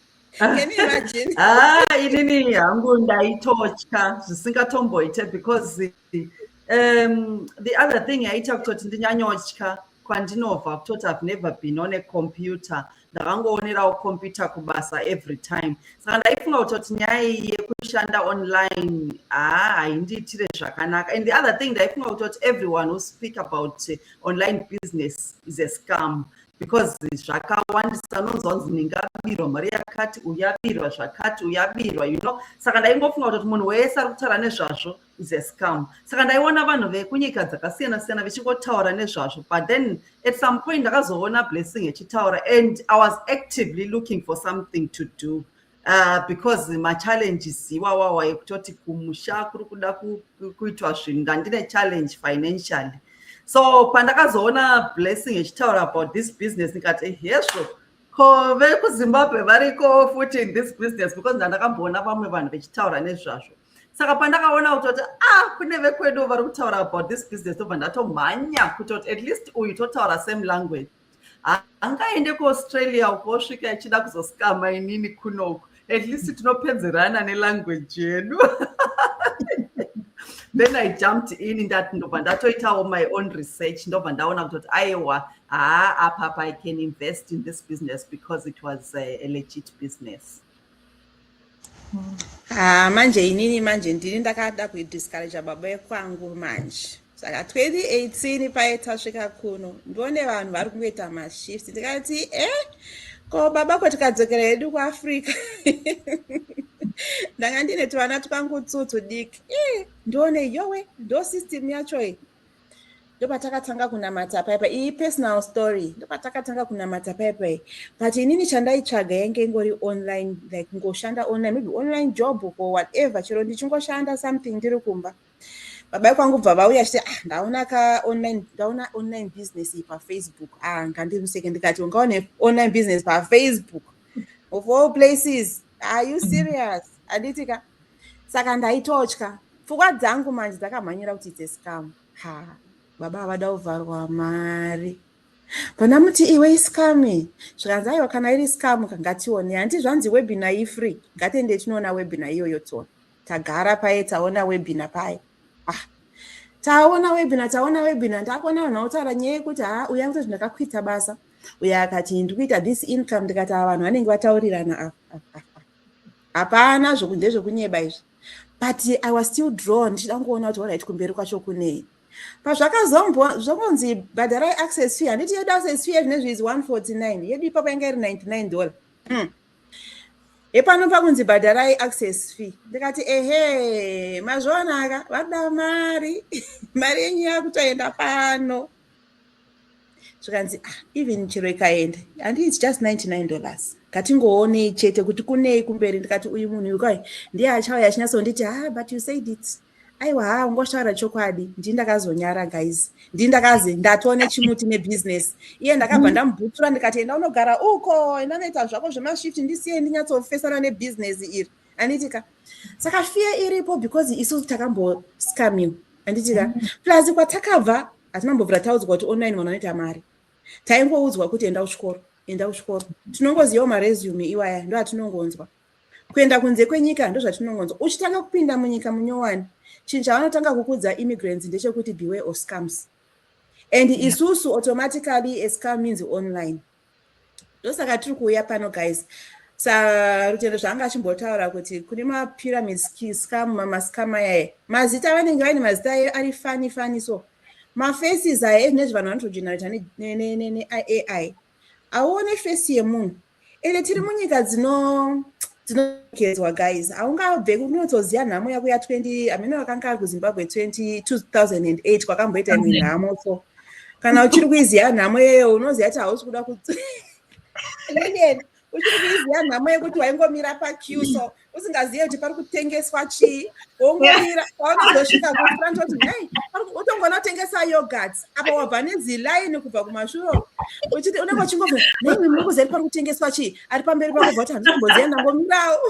ah, inini hangu ndaitotya zvisingatomboite because um, the other thing yaita kutoti ndinyanyotya kwandinobva kutoti have never been on a computer ndakangoonerawo computer kubasa every time saka ndaifunga kutoti nyaya yekushanda online haa ah, haindiitire zvakanaka and the other thing ndaifunga kutoti everyone who speak about eh, online business is a scam because zvakawandisa unonzwa kunzi ndingabirwa mari yakati uyabirwa zvakati uyabirwa you know saka ndaingofunga kutoti munhu wese ari kutaura nezvazvo is a scam saka ndaiona vanhu vekunyika dzakasiyana siyana vechingotaura nezvazvo but then at some point ndakazoona blessing echitaura and i was actively looking for something to do Uh, because machallenges iwawawa ekutoti kumusha kuri kuda kuitwa zvinhu ndandine challenge financially so pandakazoona blessing echitaura about this business ndikati hezvo ko vekuzimbabwe variko futi in this business because ndandakamboona vamwe vanhu vechitaura nezvazvo saka pandakaona kutoti ah kune vekwedu vari kutaura about this business tobva ndatomhanya kutoti at least uyu totaura same language angaende kuaustralia uko osvika achida kuzosikama inini kunoku at least tinopedzerana nelanguage yedu then i jumped in ndati ndobva ndatoitawo my own research ndobva ndaona kutoti aiwa haa apapa i can invest in this business because it was a, a legit business Haa ah, manje inini manje ndini ndakada kuidiscouraja baba ekwangu manje saka 2018 paye tasvika kuno ndione vanhu vari kungoita mashift ndikati e eh, ko baba ko tikadzokera hedu kuafrica ndanga ndine tuvana twangu tsutsu diki e eh, ndione yowe ndo system yacho iyi ndopatakatanga kunamata paipa iyi personal story ndopatakatanga kunamata paipa iyi but inini chandaitsvaga yange ingori online like ngoshanda online maybe online job or whatever chero ndichingoshanda something ndiri kumba baba kwangu bva vauya chiti ah ndaona ka online ndaona online business iyi pafacebook ah ngandimuseke ndikati ungaone online business pafacebook of all places are you serious handiti ka saka ndaitotya pfungwa dzangu manje dzakamhanyira kuti it's a scam ha baba havada kuvharwa mari vana muti iwe iscami zvikanzi aiwa kana iri scam kangatione handi zvanzi webina ifree ngatiende tinoona webina iyoyo tona tagara paye taona webina paye ah taona webina taona webina ndakuona vanhu vautaura nyaya yekuti ha uya kuti zvindakakwita basa uye akati ndikuita this income ndikati ava vanhu vanenge vataurirana ah, ah, ah, hapana zvokunze zvekunyeba izvi but i was still drawn ndichida kungoona kuti orit kumberi kwacho kunei pazvakazongonzi bhadharai access fee handiti yedu access fee ezvine zviizi 149 yedu ipapo yanga iri 99 dollar hmm. hepano pakunzi bhadharai access fee ndikati ehe mazvionaka vada mari mari yenyu yakutoenda pano zvikanzi ah, even chero ikaenda handii its just 99 dollars ngatingoonei chete kuti kunei kumberi ndikati uyu munhu uyu kai ndiye achauya achinyatsonditi ha ah, but you said it aiwa ha ah, ungotaura chokwadi ndii ndakazonyara guys ndii ndakazi ndatone chimuti nebusiness iye ndakabva ndamubhutsura ndikati enda unogara uko enda unoita zvako zvemashift ndisiye ndinyatsofesana nebusiness iri anditika saka fiye iripo because isu takamboscamiwa anditika mm-hmm. plus kwatakabva asi mambo vrataudzwa kuti online vanhu vanoita mari taingoudzwa kuti enda kuchikoro enda kuchikoro tinongozivawo maresume iwaya ndo atinongonzwa kuenda kunze kwenyika ndozvatinongonzwa uchitanga kupinda munyika munyowani chinhu chavanotanga kukudza immigrants ndechekuti beware of scams and isusu automatically ascam means online ndosaka tiri kuuya pano guys sarutendo zvaanga achimbotaura kuti kune mapyramids scam mamascam ayaye mazita vanenge vaine mazita ayo ari fani fani so mafaces aya ezvine zve vanhu vanotogenerata neai auone face yemunhu ende tiri munyika dzino tinokedzwa guys haungabve kunotsoziva nhamo yako ya 20 amene vakanga ari kuzimbabwe 2008 kwakamboita imwe nhamo so kana uchiri kuiziva nhamo yeyo unoziva kuti hausi kuda kut uchiri kuiziva nhamo yekuti waingomira paque so usingazive kuti pari kutengeswa chii wongomira waunozosvika kufront oti nei utongonotengesa yogurt apa wabva nezilaini kubva kumashuro uchiti unenge uchingoa nei mukuzeri pari kutengeswa chii ari pamberi pako bva kuti handisi kumboziva ndangomirawo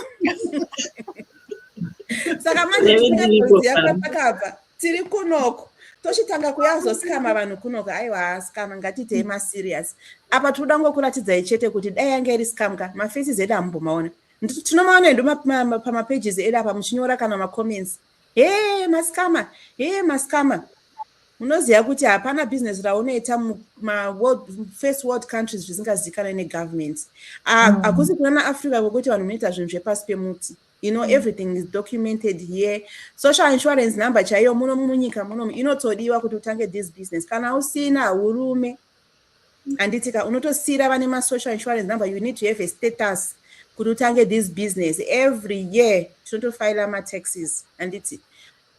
saka manje tisingaziva kwatakabva tiri kunoko tochitanga kuyazosikama vanhu kunoka aiwa haasikama ngatiitei maserious apa tinoda ngokuratidzai chete kuti dai yanga iri sikamka mafaces edu hamumbomaona tinomaona edu pamapages edu apa muchinyora kana macomments ma Hee maskama, hee maskama. Unoziva kuti hapana business raunoita mufirst world countries zvisingazivikanwe negovernment. Mm. Hakusi kuna naafrica kwokuti vanhu munoita zvinhu zvepasi pemuti. You know, mm. everything is documented here. Social insurance number chaiyo muno munyika muno inotodiwa kuti utange this business. Kana usina urume. handiti ka unotosiira vane masocial insurance number you need to have a status kuti utange this business every year tinotofaila mataxes handiti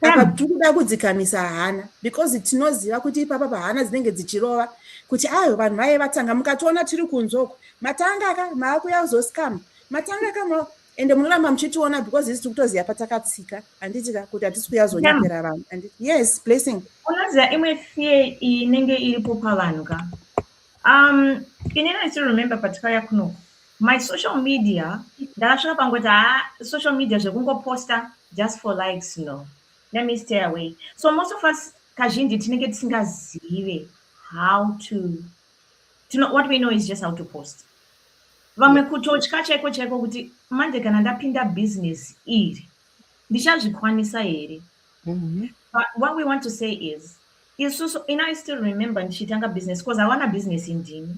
apa tiri kuda kudzikamisa hana because tinoziva kuti ipapa pahana dzinenge dzichirova kuti ayo vanhu vaye vatanga mukatoona tiri kunzoko matanga ka maakuya kuzoscam matanga ka ende munoramba muchitiona because isi tikutoziva patakatsika handiti ka kuti hatisi kuyazonyepera vanhu anditi yes blessing unoziva imwe fear inenge iripo pavanhu ka um ini ndisi remember patikauya kuno my social media ndakasvika pangoti haa social media zvekungoposta just for likes no let me stay away so most of us kazhinji tinenge tisingazive how to Tino, what we know is just how to post vamwe kutotya chaiko chaiko kuti manje kana ndapinda business iri ndichazvikwanisa here mm-hmm. but what we want to say is isusu in i still remember ndichitanga business because awana business ndini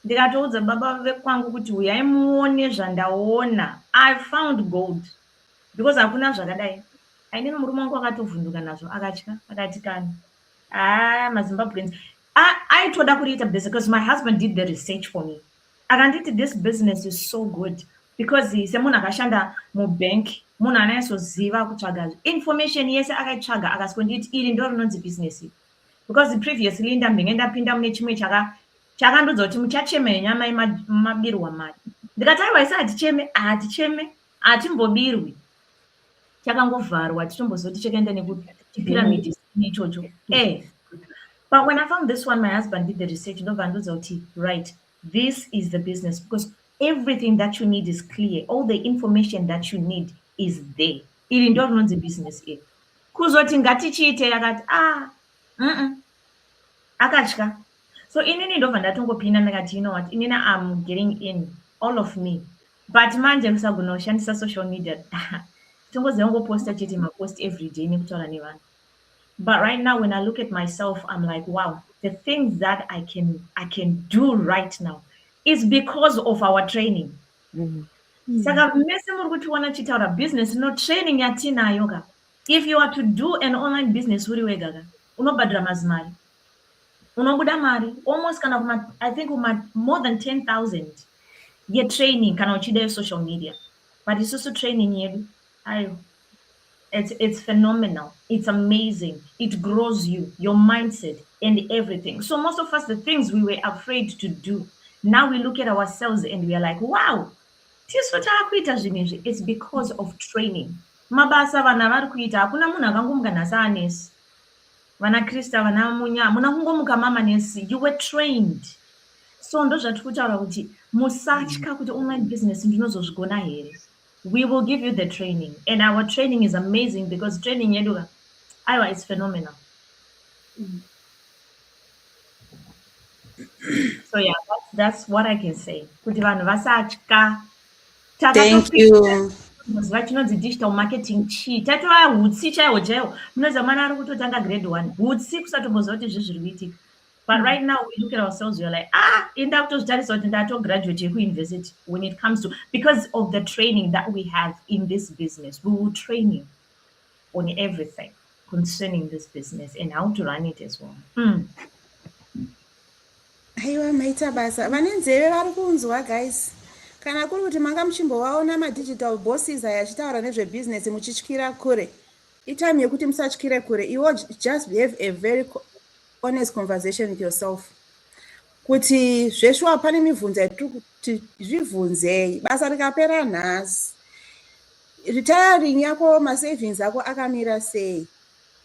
ndikatoudza baba vekwangu kuti uyai muone zvandaona i found gold because hakuna zvakadai aine murume wangu akatovhunduka nazvo akatya akati kana Ah, maZimbabweans. I, I told Akurita business because my husband did the research for me. And I did this business is so good because he said, Muna Kashanda, mu bank, Muna Neso Ziva Kuchaga. Information, yes, I got Chaga, I got Skondit, Irin Dornon's business. Because the previous Linda Mingenda Pinda Mnichme Chaga, Chaga Ndozo, Timuchacheme, Yamai Mabirwa Mat. The Kataiwa said, Cheme, Aticheme. hatimbobirwi chakangovharwa titombozoti chakaenda nekuchipiramidi mm. ichocho eh but when i found this one my husband did the research ndobva andiudza kuti right this is the business because everything that you need is clear all the information that you need is there iri ndo rinonzi business iri kuzoti ngatichiite yakati ah mm -mm. akatya so inini ndobva ndatongopinda ndakati you know what inini am getting in all of me but manje musagona kushandisa social media tongoziva kungoposta chete mapost every day nekutaura nevanhu but right now when i look at myself i'm like wow the things that i can i can do right now is because of our training mm-hmm. mm. saka mese muri kutiona tichitaura business no training yatinayo ka if you are to do an online business uri wega ka unobhadhira mazimari unobuda mari almost kana kuma i think kuma more than 10000 yetraining kana uchida yesocial media but isusu training yedu ayo it's, it's phenomenal it's amazing it grows you your mindset and everything so most of us the things we were afraid to do now we look at ourselves and we are like wow tisu taakuita zvinhu izvi it's because of training mabasa vanhu avari kuita hakuna munhu akangomuka nhasi anesi vana krista vana munya hamuna kungomuka mama nesi you were trained so ndozvatiri kutaura kuti musatya kuti online business ndinozozvigona here we will give you the training and our training is amazing because training yedu ka aiwa its phenomenal so yeah that's, that's what i can say kuti vanhu vasatya thank you muziva chinonzi digital marketing chii tatova hutsi chaiwo chaiwo munoziva mwana ari kutotanga grade one hutsi kusatomboziva kuti zvi zviri kuitika but mm. right now we look at ourselves weare like ah inda kutozvitarisa kuti ndatograduate yekuuniversity when it comes to because of the training that we have in this business we will training on everything concerning this business and how to run it as well mm. aiwa maita basa vane nzeve vari kunzwa guys kana kuri kuti manga muchimbovaona madigital bosses aya achitaura nezvebusiness muchityira kure itime yekuti musatyire kure iwo just have a very honest conversation with yourself kuti zveshuwa pane mibvunzo yatiri kuti zvibvunzei basa rikapera nhasi retiring yako masavings ako akamira sei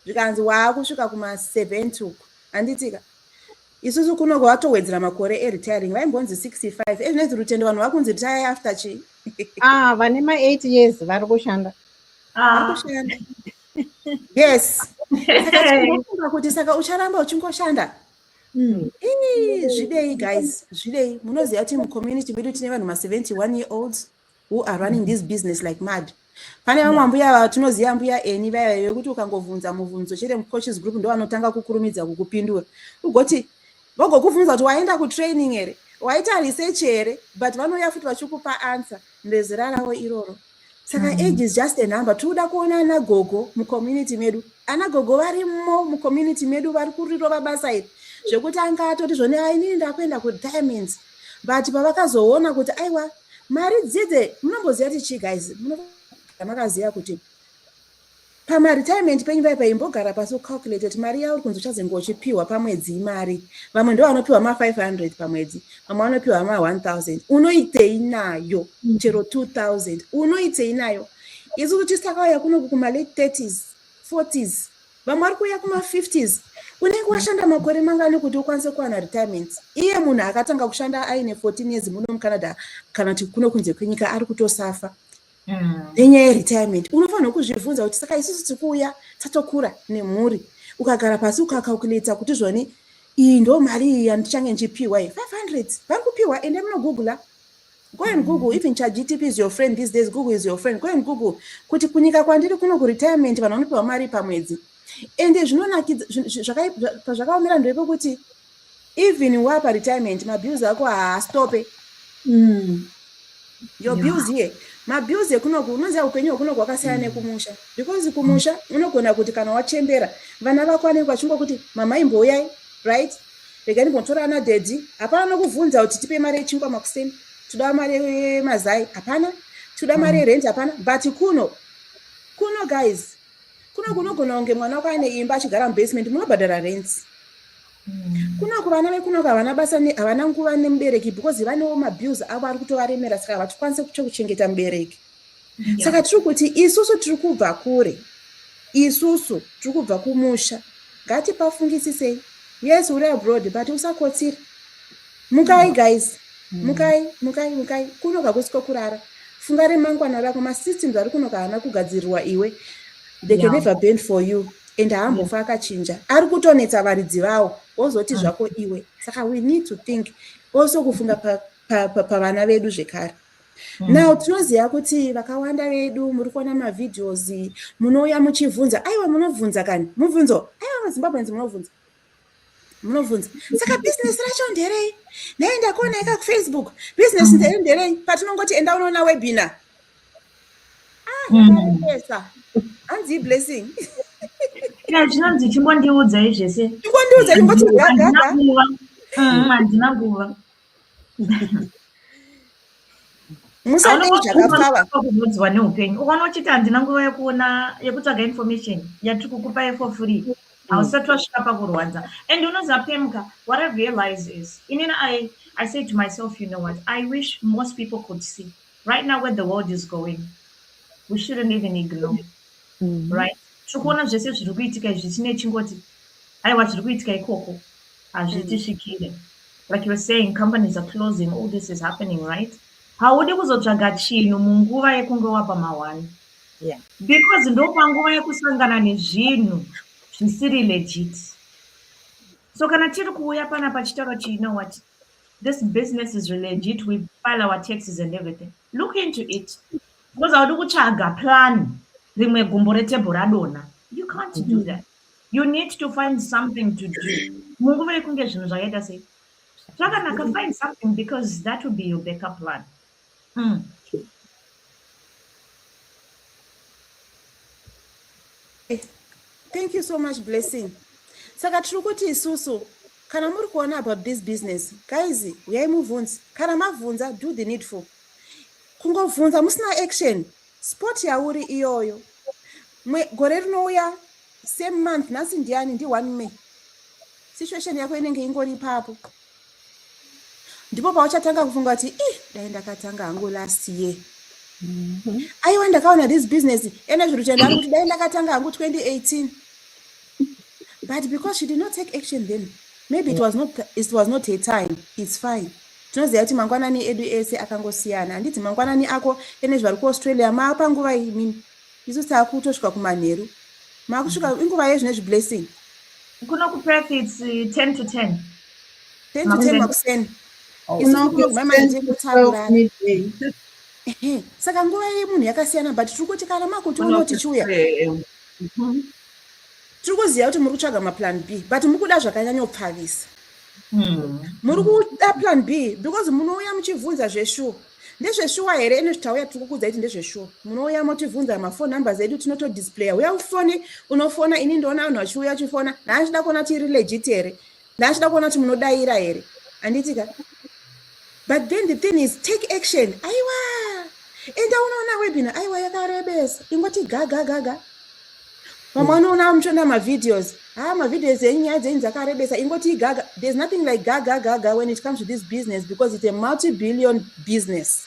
zvikanzi waakusvika kuma70 uku handitika isusu kuno kwatowedzera makore eretiring vaimbonzi 65 ezvinonzi rutendo vanhu vakunzi retiring after chi ah vane ma8 years vari kushanda ah. yes saka kuti saka ucharamba uchingoshanda hmm. zvidei guys zvidei munoziva kuti mucommunity medu tine vanhu ma71 year olds who are running this business like mad pane vamwe ambuya ava tinoziva ambuya eni vaya vaive kuti ukangobvunza mubvunzo chete mucoaches group ndo vanotanga kukurumidza kukupindura ugoti vogokubvunza kuti waenda kutraining here waita research here but vanouya futi vachikupa answer ndezera ravo iroro saka mm. age is just a number tikuda kuona ana gogo mucommunity medu ana gogo varimo mucommunity medu vari kurirova basa iri zvekuti anga atoti zvone ainini ndakuenda kudiamonds but pavakazoona kuti aiwa mari dzidze munomboziva kuti chii guys makaziva kuti pamaretirement penyu vaya paimbogara pasi ucalculate kuti mari yauri kunzi uchazenge uchipiwa pamwedzi imari vamwe ndo vanopiwa ma500 pamwedzi vamwe vanopiwa ma1000 unoitei nayo mm. chero 2000 unoitei nayo isu tichisakauya kunoku kumalate 30s 40s vamwe vari kuuya kuma50s unenge washanda makore mangani kuti ukwanise kuwana retirement iye munhu akatanga kushanda aine 14 years muno mucanada kana kuti kuno kunze kwenyika ari kutosafa mm. nenyaya yeretirement unofanirwa kuzvibvunza kuti saka isusu tikuuya tatokura nemhuri ukagara pasi ukacalculata kuti zvoni iyi ndo mari iyi yandichange ndichipiwa iyi 500 vari kupiwa ende munogoogla mm. Go and Google, even ChatGTP is your friend these days, Google is your friend. Go and Google kuti kunyika kwandiri kuno kuretirement vanhu vanopiwa mari pamwedzi. Ende zvinonakidza zvakaomera ndeve kuti even wapa retirement mabills ako haastope. Mm. Your yeah. bills here. Mabills ekunoku unoziva upenyu hwekunoku hwakasiyana mm. nekumusha because kumusha unogona kuti kana wachembera vana vako vanenge vachingokuti mama imbouyai right Rega ndimbotora ana daddy. Hapana nokuvunza kuti tipe mari yechingwa makuseni. Toda mari yemazai. Hapana. Toda mari yerent. Hapana. But kuno. Kuno guys. Kuno kunogona kunge mwana wako aine imba achigara mubasement munobhadhara rent. Hmm. Kuno kuvana vekuno havana basa havana nguva nemubereki because vanewo mabills avo ari kutovaremera saka havatokwanise kuchengeta mubereki. yeah. saka tiri kuti isusu tiri kubva kure isusu tiri kubva kumusha ngatipafungisisei yes uri abroad but usakotsiri mukai guys mm. mukai mukai mukai kunoka kusiko kurara funga remangwana rako masystems ari kunoka haana kugadzirirwa iwe they can never bend for you and haambofa akachinja ari kutonetsa varidzi vawo wozoti mm. zvako iwe saka we need to think also kufunga pavana vedu zvekare Hmm. now tinoziva kuti vakawanda vedu muri kuona mavideos munouya muchibvunza aiwa munobvunza kani mubvunzo aiwa mazimbabweans munobvunza munobvunza saka bhizinesi racho nderei nei ndakuona ika kufacebook bhizinesi hmm. ndere nderei patinongoti enda unoona webina aesa hmm. hanzi iblessing chinonzi chimbondiudzai zvese chimbondiudzai ndingoti gagaa handina nguva musaonoziwa neupenyu ukaona uchiti handina nguva yekuona yekutsvaga information yatiri kukupa yefo free hausati wasvika pakurwadza and unoziva pemka what i realize is inini i i say to myself you know what i wish most people could see right now where the world is going we shouldn't even ignore mm-hmm. right tiri kuona zvese zviri kuitika izvi chine chingoti aiwa zviri kuitika ikoko hazvitisvikire mm. like you're saying companies are closing all this is happening right haudi kuzotsvaga chinhu munguva yekunge wapa mawani yeah. because ndopanguva yekusangana nezvinhu zvisiri legit so kana tiri kuuya pana pachitaura chi know what this business is legit we file our taxes and everything look into it because haudi kutsvaga plan rimwe gumbo retebho radona you can't do mm-hmm. that you need to find something to do munguva yekunge zvinhu zvakaita sei zvakanaka find something because that will be your backup plan mm. thank you so much blessing saka tiri kuti isusu kana muri kuona about this business guys uyai mubvunzi kana mabvunza do the needful kungobvunza musina action Sport yauri iyoyo. Mwe, gore rinouya same month nhasi ndiani ndi 1 May. Situation yako inenge ingori ipapo. Ndipo pauchatanga kufunga kuti ih dai ndakatanga hangu last year. Mm -hmm. Aiwa ndakaona this business ene zviri kuchenda kuti dai ndakatanga hangu 2018. but because she did not take action then maybe it was not, it was not her time it's fine tinoziva kuti mangwanani edu ese akangosiyana handiti mangwanani ako ene zvari kuaustralia maapanguva imini isu taakutosvika kumanheru maakusvika mm-hmm. inguva yezvine zviblessing kuno kuperth its 10 uh, to 10 10 to 10 makuseni saka nguva yemunhu yakasiyana but tiri kuti kana makuti unotichiuya Tiri kuziva kuti muri kutsvaga maplan B but muri kuda zvakanyanyopfavisa. Hmm. Muri kuda plan B because munouya muchivhunza zveshuwa. Ndezveshuwa here ene zvitauya tiri kukudza kuti ndezveshuwa. Munouya motivhunza mafone numbers edu tinotodisplaya. Uya ufone unofona ini ndoona vanhu vachiuya chifona. Naachida kuona tiri legit here. ndaachida kuona kuti munodaira here handiti ka but then the thing is take action aiwa enda unoona webina aiwa yakarebesa ingoti gagagaga vamwe vanoona muchiona mavideos haa mavideos enyu nyaya dzenyu dzakarebesa ingoti igaga there's nothing like gagagaga when it comes to this business because it's a multi billion business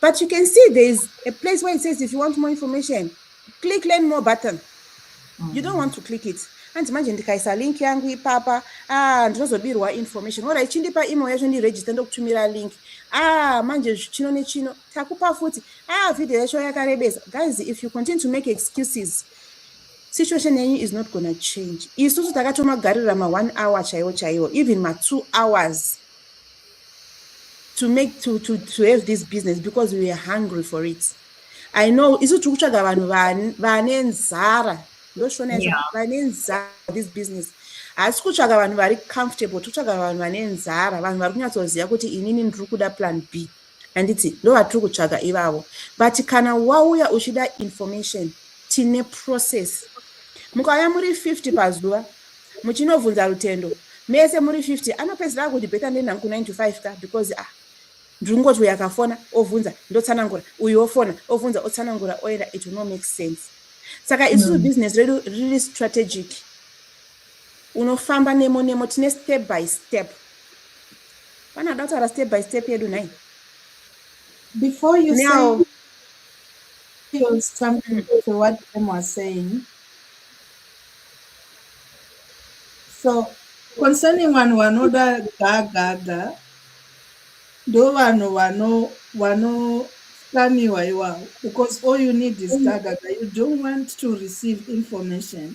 But you can see there is a place where it says if you want more information, click learn more button. Mm. You don't want to click it. hanzi manje ndikaisa link yangu ipapa ah, ndinozobirwa information ora ichindipa email yacho ndiregister ndokutumira link ah, manje chino nechino takupa futi ah, video yacho yakarebesa guys if you continue to make excuses situation yenyu is not gonna change isusu takatomagarira ma1 hour chaiwo chaiwo even ma2 hours to make to, to, to have this business because we were hungry for it i know isu tiri kutsvaga vanhu vane nzara ndoshona izvo vane nzara this business haasi kutsvaga vanhu vari comfortable tiri kutsvaga vanhu vane nzara vanhu vari kunyatsoziva kuti inini ndiri kuda plan b yeah. handiti ndovatiri kutsvaga ivavo but kana wauya uchida information tine process mukauya muri 50 pazuva muchinobvunza rutendo mese muri 50 anopedzisira akuti beta ndenhangu 9 to 5 ka because ah ndiri kungoti uyu akafona obvunza ndotsanangura uyu ofona obvunza otsanangura oenda it will no make sense saka isusu mm. business redu riri strategic unofamba nemo nemo tine step by step pana ada kutaura step by step yedu nhai before you now say feels something mm -hmm. to what them was saying so concerning vanhu vanoda gagaga ndo vanhu vano vano kaniwa iwawo because all you need is mm. gagaga you don't want to receive information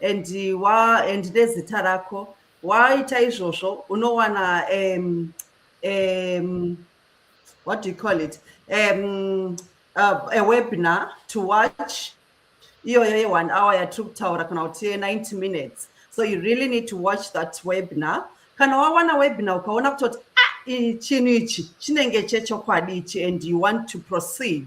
and wa and nezita rako waita izvozvo unowana um, um, what do you call it um, uh, a webinar to watch iyoyo ye-one hour yatiri kutaura kana kuti ye-90 minutes so you really need to watch that webinar kana wawana webinar ukaona kutoti ah, chinhu ichi chinenge chechokwadi ichi and you want to proceed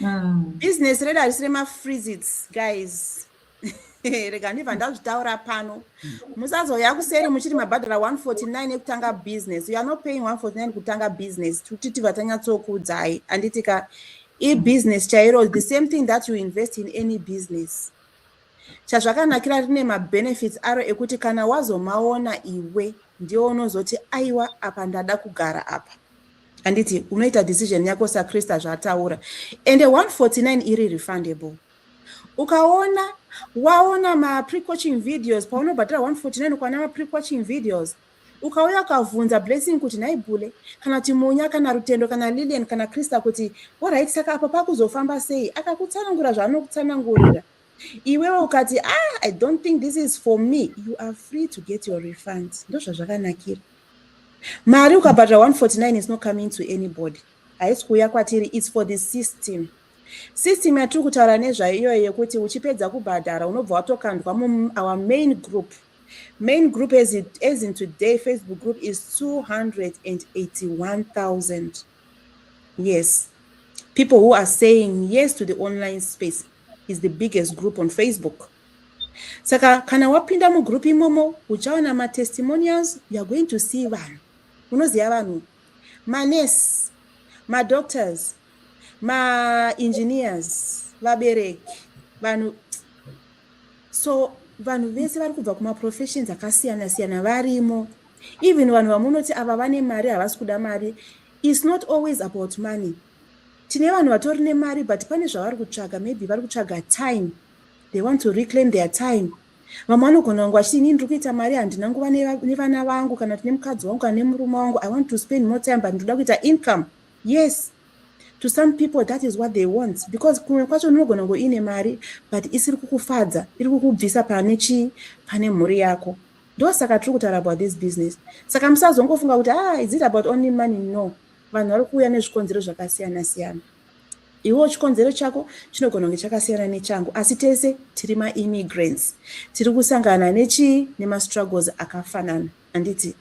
mm. business redu harisi remafreezits guys rega ndibva ndazvitaura pano musazouya kuseri muchiti mabhadhara 149 ekutanga business you are not paying 149 kutanga business kuti tibva tanyatsokuudzai anditi ka ibusiness chairo the same thing that you invest in any business chazvakanakira rine mabenefits aro ekuti kana wazomaona iwe ndiwo unozoti aiwa apa ndada kugara apa handiti unoita decision yako sakrista zvaataura ende 149 iri refundable ukaona waona maprecoaching videos paunobhatira 149 ukaona maprecoaching videos ukauya ukavhunza blessing kuti nhai bule kana kuti munya kana rutendo kana lilian kana krista kuti orit saka apa pakuzofamba sei akakutsanangura zvaanokutsanangurira iwewe ukati ah i don't think this is for me you are free to get your refund ndozvazvakanakira mari ukabhadhara 149 is not coming to anybody haisi kuuya kwatiri its for the system system yatiri kutaura nezvayo iyoyo yekuti uchipedza kubhadhara unobva watokandwa muour main group main group as, it, as in today facebook group is 281000 Yes. People who are saying yes to the online space is the biggest group on Facebook. Saka kana wapinda mugroup imomo uchaona matestimonials you are going to see vanhu. Unoziva vanhu manurse, madoctors, maengineers, vabereki, vanhu so vanhu vese vari kubva kumaprofessions akasiyana siyana varimo even vanhu vamunoti ava vane mari havasi kuda mari is not always about money tine vanhu vatori nemari but pane zvavari kutsvaga maybe vari kutsvaga time they want to reclaim their time vamwe vanogona kunge vachiti inini ndiri kuita mari handina nguva nevana vangu kana kuti nemukadzi wangu kana nemurume wangu i want to spend more time but ndinoda kuita income yes to some people that is what they want because kumwe kwacho unogona kunge uine mari but isiri kukufadza iri kukubvisa pane chii pane mhuri yako ndosaka tiri kutaura about this business saka musazongofunga kuti ah is it about only money no vanhu vari kuuya nezvikonzero zvakasiyana siyana iwewo chikonzero chako chinogona kunge chakasiyana nechangu asi tese tiri maimmigrants tiri kusangana nechii nemastruggles akafanana handiti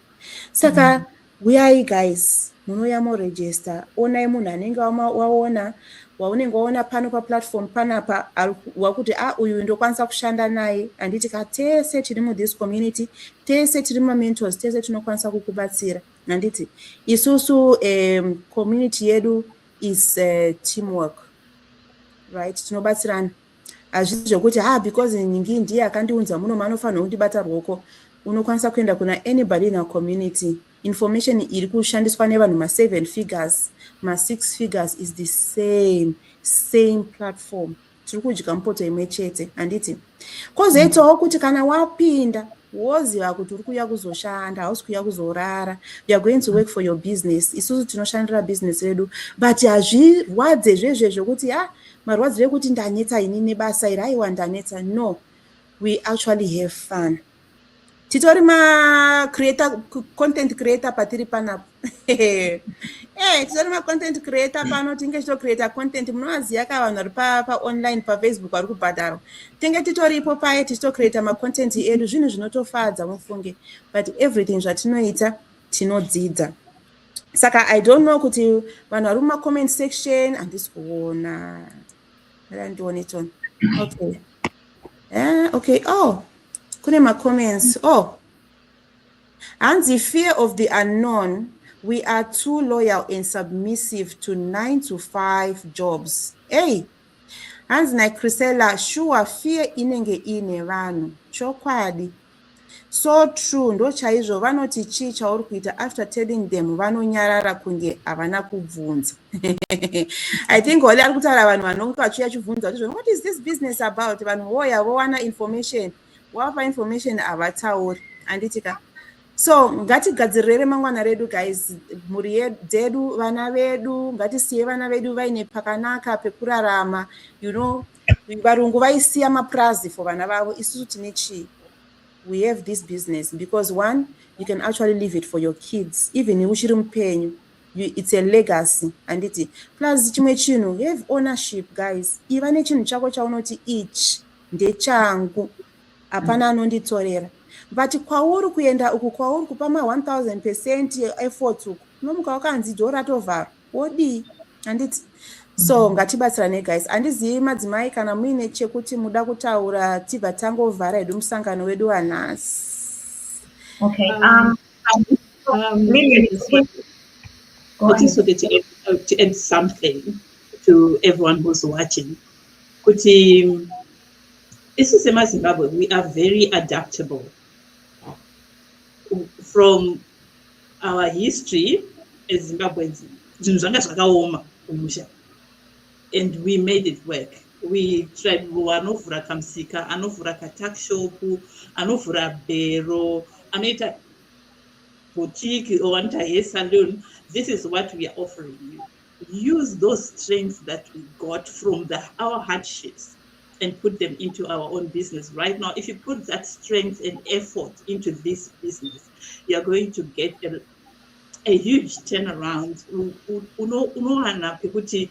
saka mm -hmm. Huyai guys munouya mo register onai munhu anenge waona waunenge waona pano pa platform panapa wakuti a ah, uyu ndokwanisa kushanda naye handiti ka tese tiri mu this community tese tiri ma mentors tese tinokwanisa kukubatsira handiti isusu um, community yedu is uh, teamwork right tinobatsirana hazvisi zvekuti ha ah, because nyingi ndiye akandiunza muno manofanirwa kundibata rwoko unokwanisa kuenda kuna anybody in our community information iri kushandiswa nevanhu maseven figures masix figures is the same same platform tiri kudya mupoto imwe chete handiti kozoitawo mm. kuti kana wapinda woziva kuti uri kuuya kuzoshanda hausi kuuya kuzorara youare going to work for your business isusu tinoshandira business redu but hazvirwadze zvezvezvo kuti ha ah, Marwadzo ekuti ndanetsa ini nebasa iri aiwa ndanetsa no we actually have fun titori macreator content creator patiri panapo e eh, titori macontent creator pano tinge titocreata content munovaziva ka vanhu vari paonline pafacebook vari kubhadharwa tinge titoripo paye tichitocreata macontent edu zvinhu zvinotofadza mufunge but everything zvatinoita tinodzidza saka i don't know kuti vanhu vari mumacomment section handisi kuona randione chon okay eh, okay oh kune macomments oh hanzi fear of the unknown we are too loyal and submissive to nine to five jobs ey hanzi nacrisella sure fear inenge iine vanhu chokwadi So true ndochaizvo vanoti chii chauri kuita after telling them vanonyarara kunge havana kubvunza. I think holy ari kutaura vanhu vanonge vachiuya chibvunza kuti what is this business about vanhu voya vowana information wapa information havatauri handiti ka so ngatigadzirire remangwana redu guys mhuri dzedu vana vedu ngatisiye vana vedu vaine pakanaka pekurarama you know varungu vaisiya mapurazi for vana vavo isusu tine chii we have this business because one you can actually leave it for your kids even uchiri mupenyu it's a legacy handiti plus chimwe chinhu have ownership guys iva nechinhu chako chaunoti ichi ndechangu hapana mm. anonditorera but kwauri kuenda uku kwauri kupa ma 1000 percent effort uku unomuka wakanzi dho ratovharwa wodii handiti so mm-hmm. ngatibatsirane guys handizivi madzimai kana muine chekuti muda kutaura tibva tangovhara hedu musangano wedu wanhasi okay um, um, um, kuti sote to add something to everyone who's watching kuti um, isu semazimbabwe we are very adaptable from our history as zimbabweans zvinhu zvanga zvakaoma kumusha and we made it work we tried anovhura kamusika anovhura katuckshop anovhura bhero anoita boutique or anoita hair saloon this is what we are offering you use those strengths that we got from the, our hardships and put them into our own business right now if you put that strength and effort into this business you're going to get a, a huge turnaround unowana pekuti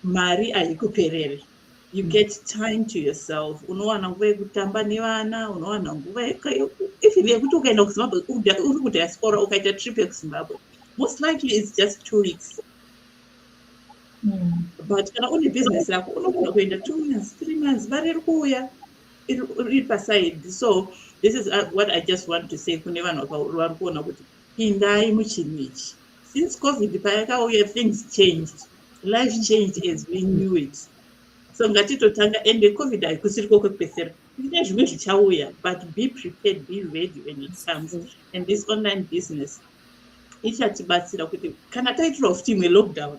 mari haikuperere you mm. get time to yourself unowana nguva yekutamba nevana unowana nguva even yekuti ukaenda kuzimbabwe uri kudiaspora ukaita trip yekuzimbabwe most likely it's just two weeks mm. but kana une business rako unogona kuenda two months three months mari iri kuuya iri paside so this is uh, what i just want to say kune vanhu vari kuona kuti pindai muchinhu ichi since covid payakauya things changed life changed as we knew it so ngatitotanga ende covid haikusiri ko kwekupesera kune zvimwe zvichauya but be prepared be ready when it comes and this online business ichatibatsira kuti kana taitirawo futi imwe lockdown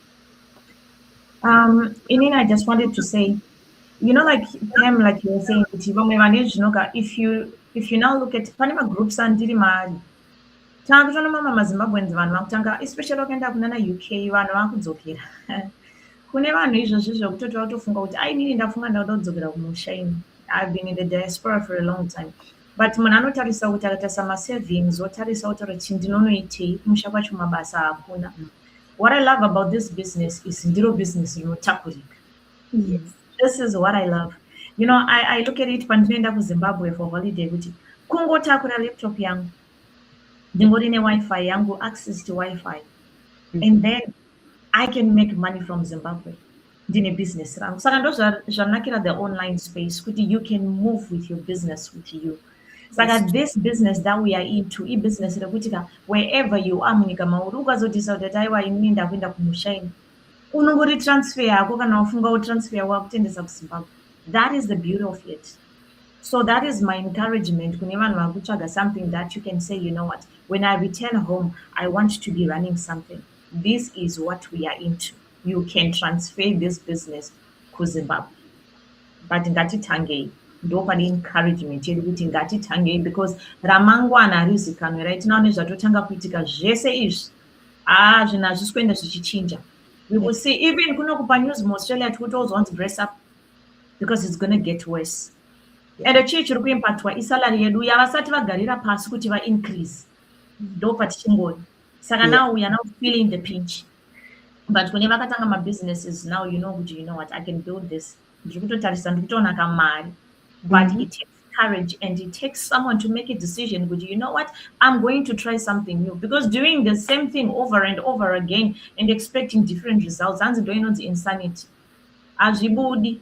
Um, Inina, I just wanted to say, you know, like them, like you were saying, if you if you now look at Panama groups and Dirimari, takutoona mama mazimbabweans vanhu vakutanga especially vakaenda kunana uk vanhu vakudzokera kune vanhu izvozvi zvekutoti vakutofunga kuti ainini ndafunga ndakuda kudzokera kumusha ini i've been in the diaspora for a long time but munhu anotarisa kuti akatarisa masavings otarisa otaura kuti ndinonoitei kumusha kwacho mabasa hakuna what i love about this business is ndiro business rinotakurika yes. this is what i love you know i, I look at it pandinoenda kuzimbabwe for holiday kuti kungotakura laptop yangu ndingori newifi yangu access to wifi mm -hmm. and then i can make money from zimbabwe ndine business rangu saka ndo zvanakira the online space kuti you can move with your business with you saka this business that we are into ibusiness rekuti ka wherever you are munyika mauri ukazodisa kuti ati aiwa inini ndakuenda kumusha ini unongori transfer yako kana wafunga wotransfer yako wakutendesa kuzimbabwe that is the beauty of it so that is my encouragement kune vanhu vari kutsvaga something that you can say you know what when i return home i want to be running something this is what we are into you can transfer this business kuzimbabwe but ngatitangei ndopane encouragement yedu kuti ngatitangei because ramangwana harizikanwe rai tinoona nezvatotanga kuitika zvese izvi haa ah, zvinhu hazvisi kuenda zvichichinja we will see even kunokupa news muaustralia tikutouzwa kunzi brace up because it's gonna get worse and chii chiri kuimpactwa isalary yedu yavasati vagarira pasi kuti vaincrease ndopatichingoni saka now we are now feeling the pinch but kune vakatanga mabusinesses now you know kuti you know what i can build this ndiri kutotarisa ndiri kutoona kamari but mm -hmm. it takes courage and it takes someone to make a decision kuti you know what i'm going to try something new because doing the same thing over and over again and expecting different results hanzi ndo inonzi insanity hazvibudi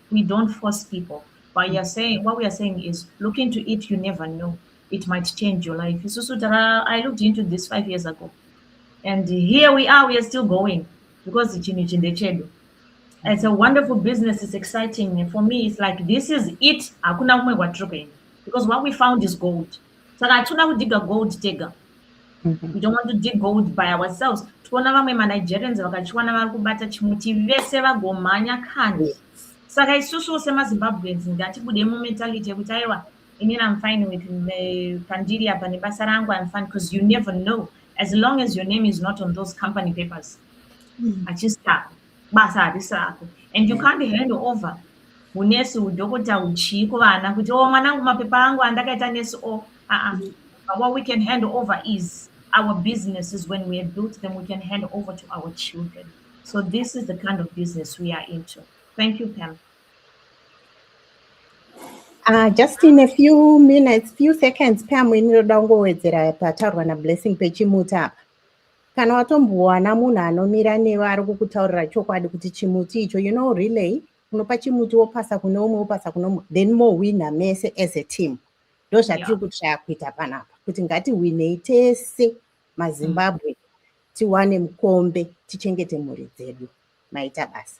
we don't force people but you're saying what we are saying is look into it you never know it might change your life isusu tara i looked into this five years ago and here we are we are still going because chinhu ichi ndechedu it's a wonderful business it's exciting for me it's like this is it hakuna kumwe kwatiri kuenda because what we found is gold saka hatikuda kudiga gold tega mhm. we don't want to dig gold by ourselves tikuona vamwe manigerians vakachiwana vari kubata chimuti vese vagomhanya kani saka isusuwo semazimbabweans ngatibude mumentality yekuti aiwa inini am fine with eh, pandiri apa nebasa rangu im fine because you never know as long as your name is not on those company papers mm. achistako basa harisi rako and you mm. can't hand over hunesi hudhokota huchii kuvana kuti o oh, mwanangu mapepa angu andakaita nesi o oh, aa mm. what we can hand over is our businesses when we have built them we can hand over to our children so this is the kind of business we are into thank you pam Uh, just in a few minutes, few seconds, Pam, we need to go with the Patarwana blessing Pechimuta. kana watombowana munhu anomira newe ari kukutaurira chokwadi kuti chimuti icho you know relay unopa chimuti wopasa kune umwe wopasa kune umwe then mowina mese as a team ndo zvatiri yeah. kutyaya kuita panapa kuti ngatiwinei tese mazimbabwe mm. tiwane mukombe tichengete mhuri dzedu maita basa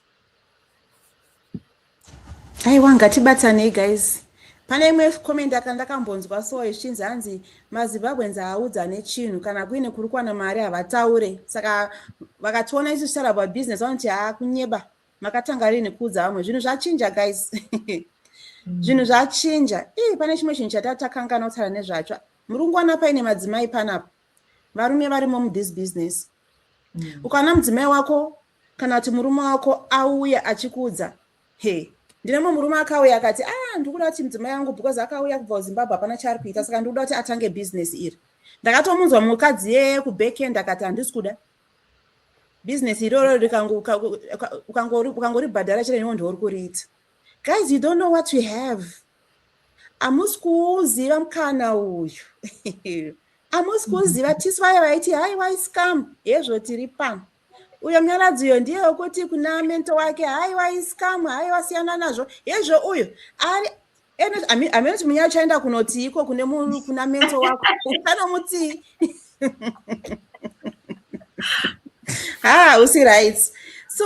aiwa ngatibatsanei guys pane imwe comment aka ndakambonzwa so ichinzi hanzi mazimbabweans haaudza nechinhu kana kuine kuri kuwana mari havataure saka vakationa isu tichitaura about business vanoti haa kunyeba makatanga rii nekuudza vamwe zvinhu zvachinja guys mm. zvinhu zvachinja ii pane chimwe chinhu chatatakanganwa kutaura nezvacho muri kungowana paine madzimai panapa varume varimo muthis business mm. ukaona mudzimai wako kana kuti murume wako auya achikuudza he ndine mumwe murume akauya akati a ah, ndikuda kuti mudzimai yangu because akauya kubva kuzimbabwe hapana chaari kuita saka ndikuda kuti atange business iri ndakatomunzwa mukadzi yeye kubackend akati handisi kuda business iroro ukangouri bhadhara chete newo ndiwo uri kuriita Guys, you don't know what you have. Amusi kuuziva mkana uyu. Amusi kuuziva tisu vaye vaiti hai wai scam hezvo tiri pano. Uyo mnyaradzi uyo ndiye wekuti kuna mento wake hai wai scam hai wasiyana nazvo hezvo uyo ari amene kuti munyaya uchaenda kunotiiko kune munhu kuna mento wako uchanomutii ha usi right so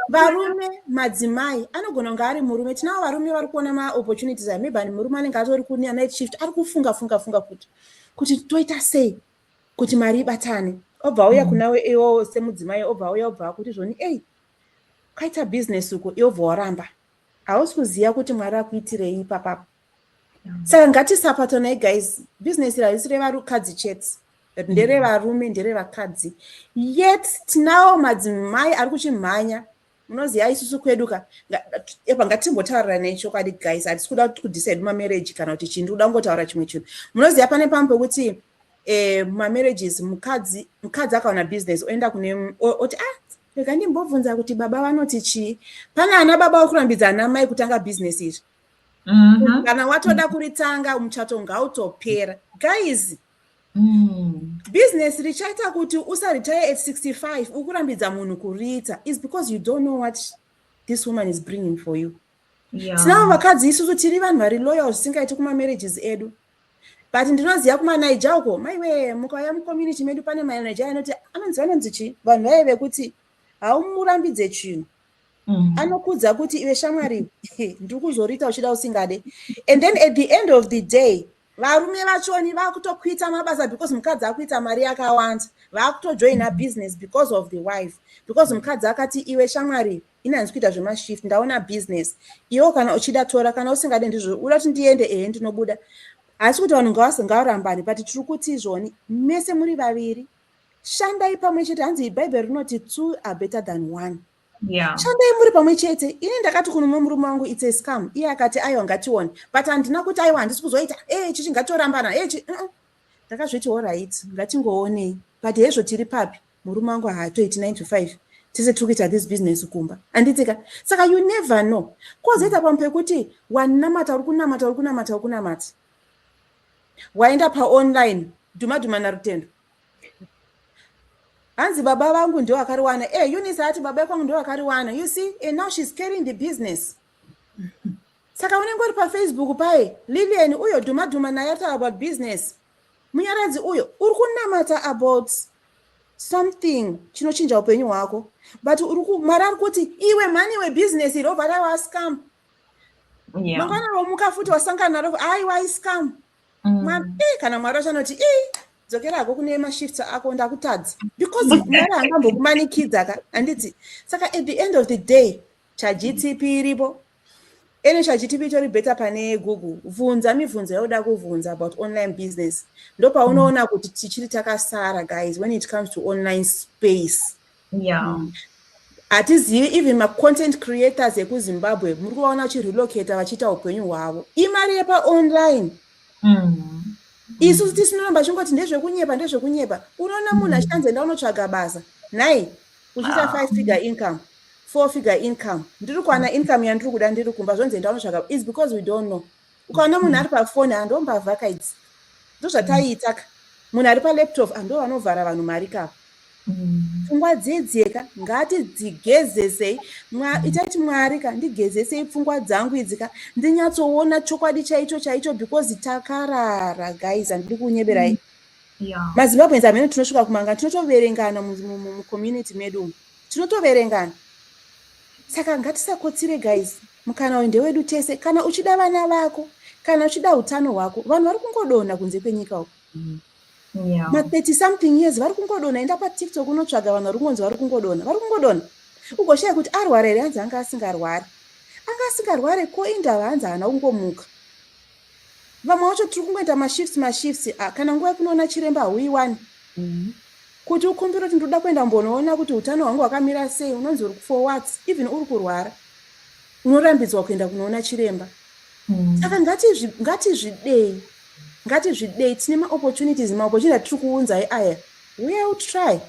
varume madzimai anogona kunge ari murume tinavo varume vari kuona maopportunities a maybe murume anenge atori kune anight shift ari kufunga funga funga kuti kuti toita sei kuti mari ibatane obva auya mm. kunawe iwo semudzimai obva auya obva akuti zvoni ei kwaita business uko iobva waramba hausi kuziva kuti mwari akuitirei ipapapo saka ngatisapatonai guys business harisi revarukadzi chete but nderevarume nderevakadzi yet tinawo madzimai ari kuchimhanya munoziva isusu kwedu ka epa ngatimbotaurira nechokwadi guys hatisi kuda kuti kudhisaidi mamarriage kana kuti chindi kuda kungotaura chimwe chinhu munoziva pane pamwe pekuti um eh, mamarriages mukadzi mukadzi akaona business oenda kune oti ah rega ndimbobvunza kuti baba vanoti chii pane ana baba uri kurambidza ana mai kutanga business izvi mm-hmm. kana watoda kuritanga muchato ngautopera guys mm. business richaita kuti usaretire at 65 ukurambidza munhu kuriita is because you don't know what this woman is bringing for you tinavo vakadzi isusu tiri vanhu vari loyal zvisingaiti kumamarriages edu but ndinoziva kumanaija uko maiwe mukauya mucommunity medu pane manaija anoti anonzi vanonzi chii vanhu vaye vekuti haumurambidze chinhu Mm. anokudza kuti iwe shamwari ndiri kuzoriita uchida usingade and then at the end of the day varume vachoni vakutokuita mabasa because mukadzi akuita mari yakawanda vakutojoina business because of the wife because mukadzi akati iwe shamwari inanzi kuita zvemashift ndaona business iwo kana uchida tora kana usingade ndizvo uda kuti ndiende ehe ndinobuda asi kuti vanhu ngavasingaurambani but tiri kuti izvoni mese muri vaviri shandai pamwe chete hanzi ibhaibheri rinoti two are better than one yeah. shandai muri pamwe chete ini ndakati kunomwe murume wangu its a scam iye akati aiwa ngatione but handina kuti aiwa handisi kuzoita e eh, chichi ngatorambana e eh, uh-uh. ndakazviti orit ngatingoonei but hezvo tiri papi murume wangu haatoiti 9 to 5 tese tiri kuita this business kumba anditika saka you never know kozoita pamwe pekuti wanamata uri kunamata uri kunamata uri kunamata waenda paonline dhuma dhuma narutendo hanzi baba vangu ndo vakariwana e eh, unis ati baba kwangu ndo vakariwana you see and eh, now she's carrying the business saka unenge uri pafacebook paye lilian uyo dhuma dhuma naye ata about business munyaradzi uyo uri kunamata about something chinochinja upenyu hwako but mwari ari kuti iwe mhani webusiness irobva raiwascam yeah. mangwana womuka futi wasangana naro aiwa iscam mm. mwana eh, kana mwari wacho anoti ii eh, dzokera hako kune mashifts ako ndakutadza because mwari angambokumanikidza ka handiti saka at the end of the day chagtp iripo ene chagtp itori better pane google vhunza mibvunzo yauda kuvhunza about online business ndopaunoona kuti tichiri takasara guys when it comes to online space yeah. mm. hatizivi even macontent creators ekuzimbabwe muri kuvaona vachirelocata vachiita upenyu hwavo imari yepaonline mm. isu mm. tisinoramba chingoti ndezvekunyepa ndezvekunyepa unoona munhu mm. achitanzi enda unotsvaga basa nhai uchiita ah. five figure income four figure income ndiri kuwana income yandiri kuda ndiri kumba zvonzi enda unotsvaga is because we don't know ukaona munhu ari pafoni hando mbavha ka idzi ndozvataiita ka munhu ari palaptop hando ah, vanovhara vanhu mari kavo mm. pfungwa dziedzeka ngatidzigezesei itaiti mwari ka ndigezesei pfungwa dzangu idzi ka ndinyatsoona chokwadi chaicho chaicho because takarara guys handidi kunyeberai mm. mazimbabwens amene tinosvika kumanga tinotoverengana mucommunity medu tinotoverengana saka ngatisakotsire guys Mukana uyu ndewedu tese. Kana uchida vana vako, kana uchida utano hwako, vanhu vari kungodona kunze kwenyika uko. Mm. Yeah. Ma 30 something years vari kungodona, enda pa TikTok unotsvaga vanhu vari kungonzi vari kungodona, vari kungodona. Ugoshaya kuti arwara here hanzi anga asingarwari. Anga asingarwari ko indava hanzi haana kungomuka. Vamwe wacho tiri kungoita mashifts mashifts a ah, kana nguva yekunoona chiremba hauiwani mm. kuti ukumbire kuti ndoda kuenda mbonoona kuti utano hwangu hwakamira sei unonzi uri for what even uri kurwara unorambidzwa kuenda kunoona chiremba mm. saka mm. ngatizvidei ngatizvidei tine maopportunities maopportunity atiri kuunzai aya uya utry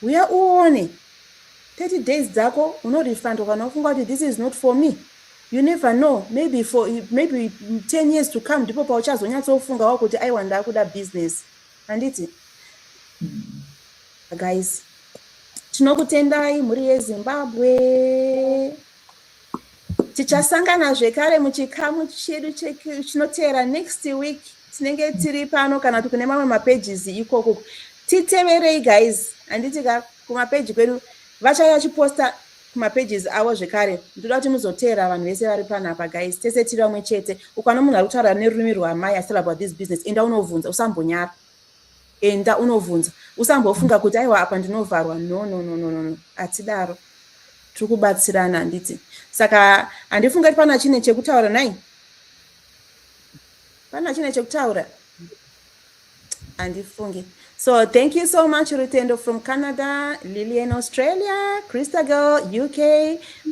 uya uone 30 days dzako unorefundwa kana ufunga kuti this is not for me You never know maybe for maybe 10 years to come ndipo pauchazonyatsofungawo kuti aiwa ndakuda business handiti guys tinokutendai mhuri yezimbabwe tichasangana zvekare muchikamu chedu chinoteera next week tinenge tiri pano kana kuti kune mamwe mapages ikoko titeverei guys handiti ka kumapeji kwedu vachaya chiposta kuma pages avo zvekare ndoda kuti muzoteera vanhu vese vari pano apa guys tese tiri vamwe chete ukwana munhu ari kutaura nerurimi rwamai astel about this business enda unovhunza usambonyara enda unovhunza usambofunga kuti aiwa apa ndinovharwa no no no no no no atidaro tiri kubatsirana handiti saka handifunga kuti pana chine chekutaura nai pana chine chekutaura andifunge so thank you so much rutendo from canada lilian australia christagal uk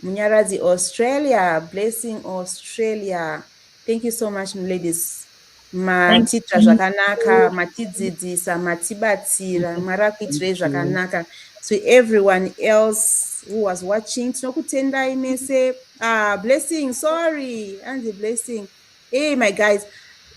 munyaradzi australia blessing australia thank you so much ladies matiita zvakanaka matidzidzisa matibatsira mwari akuitirei zvakanaka to everyone else who was watching tinokutendai mese ah, blessing sorry anzi blessing Hey my guys,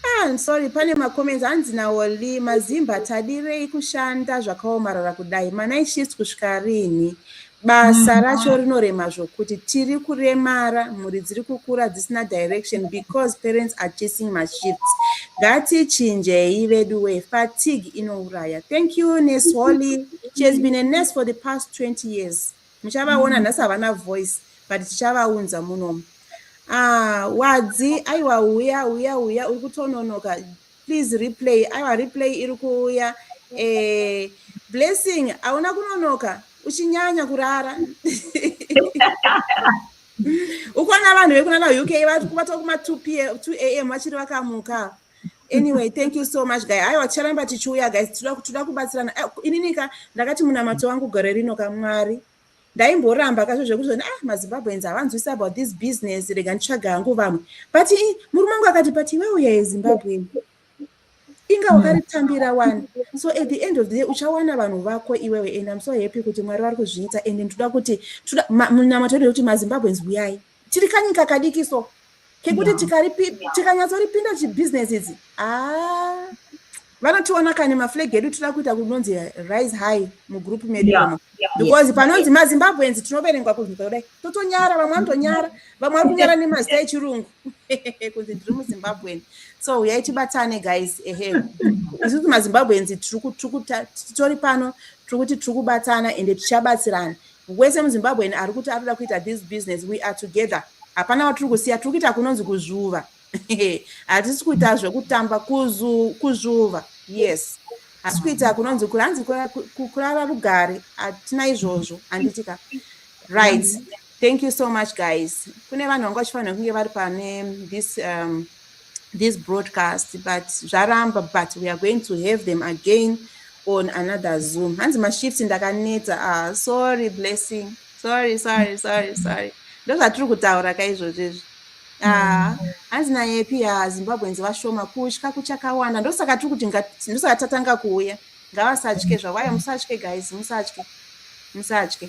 ah, I'm sorry pane macomments hanzi naOli mazimba tadirei kushanda zvakaomarara kudai manai shift kusvika rini basa mm. racho rinorema zvokuti tiri kuremara mhuri dziri kukura dzisina direction because parents are chasing mashifts ngatichinjei vedu we fatigue inouraya thank you nes holly she has been a nurse for the past 20 years Muchavaona nhasi havana voice but tichavaunza munomu. Ah, wadzi aiwa uya uya uya uri kutononoka please replay aiwa replay iri kuuya eh, blessing hauna kunonoka uchinyanya kurara ukona vanhu vekunana uk vatokuma 2 am vachiri vakamuka anyway thank you so much guy aiwa ticharamba tichiuya guys tinoda kubatsirana eh, ininika ndakati munamato wangu gore rino kamwari ndaimboramba kazvo zvekuti zoni ah mazimbabweans havanzwisi about this business rega nditsvaga hangu vamwe but murume wangu akati but iwe uya yezimbabwe inga wakaritambira wani so at the end of the day uchawana vanhu vako iwewe and im so happy kuti mwari vari kuzviita and ndoda kuti munamato kuti mazimbabweans uyai tiri kanyika kadiki so kekuti tikanyatsoripinda chibhizinesi idzi ah, vanotiona kani maflag edu tinoda kuita kunonzi rise high mugroup medu imo because panonzi mazimbabweans tinoverengwa kunyika kudai totonyara vamwe vanotonyara vamwe vari kunyara nemazita echirungu kunzi ndiri muzimbabwean so huyai tibatane guys ehe isuti mazimbabweans titori pano tiri kuti tiri kubatana ende tichabatsirana Wese muZimbabwean ari kuti atoda kuita this business we are together. Hapana watiri kusiya tiri kuita kunonzi kuzvuva. Hatisi kuita zvekutamba kuzu kuzvuva. Yes. Hasi kuita kunonzi kuranzi kurara rugare hatina izvozvo handitika. Right. Thank you so much guys. Kune vanhu vanga vachifanira kunge vari pane this um, this broadcast but zvaramba but we are going to have them again on another zoom hanzi mashift ndakanetsa ah, sorry blessing sorry sorry sorry sorry ndozvatiri kutaura ka izvozvo izvi ah, hanzi ah, nayepi ya ah, zimbabweans vashoma kutya kuchakawanda ndosaka tiri kuti ndosaka tatanga kuuya ngavasatye zvavayo musatye guys musatye musatye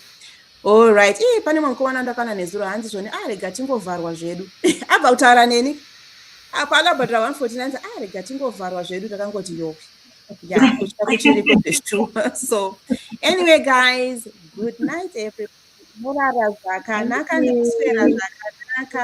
Alright, ii pane mwe mukomana ndakana nezuro hanzi zvoni ah rega tingovharwa zvedu. Abva kutaura neni. Apa akabhadhara 149 ah rega tingovharwa zvedu takangoti yoke. Yeah, kutya kuchiriko zveshuwa. So anyway guys, good night everybody. Morara zvakanaka nekuswera zvakanaka.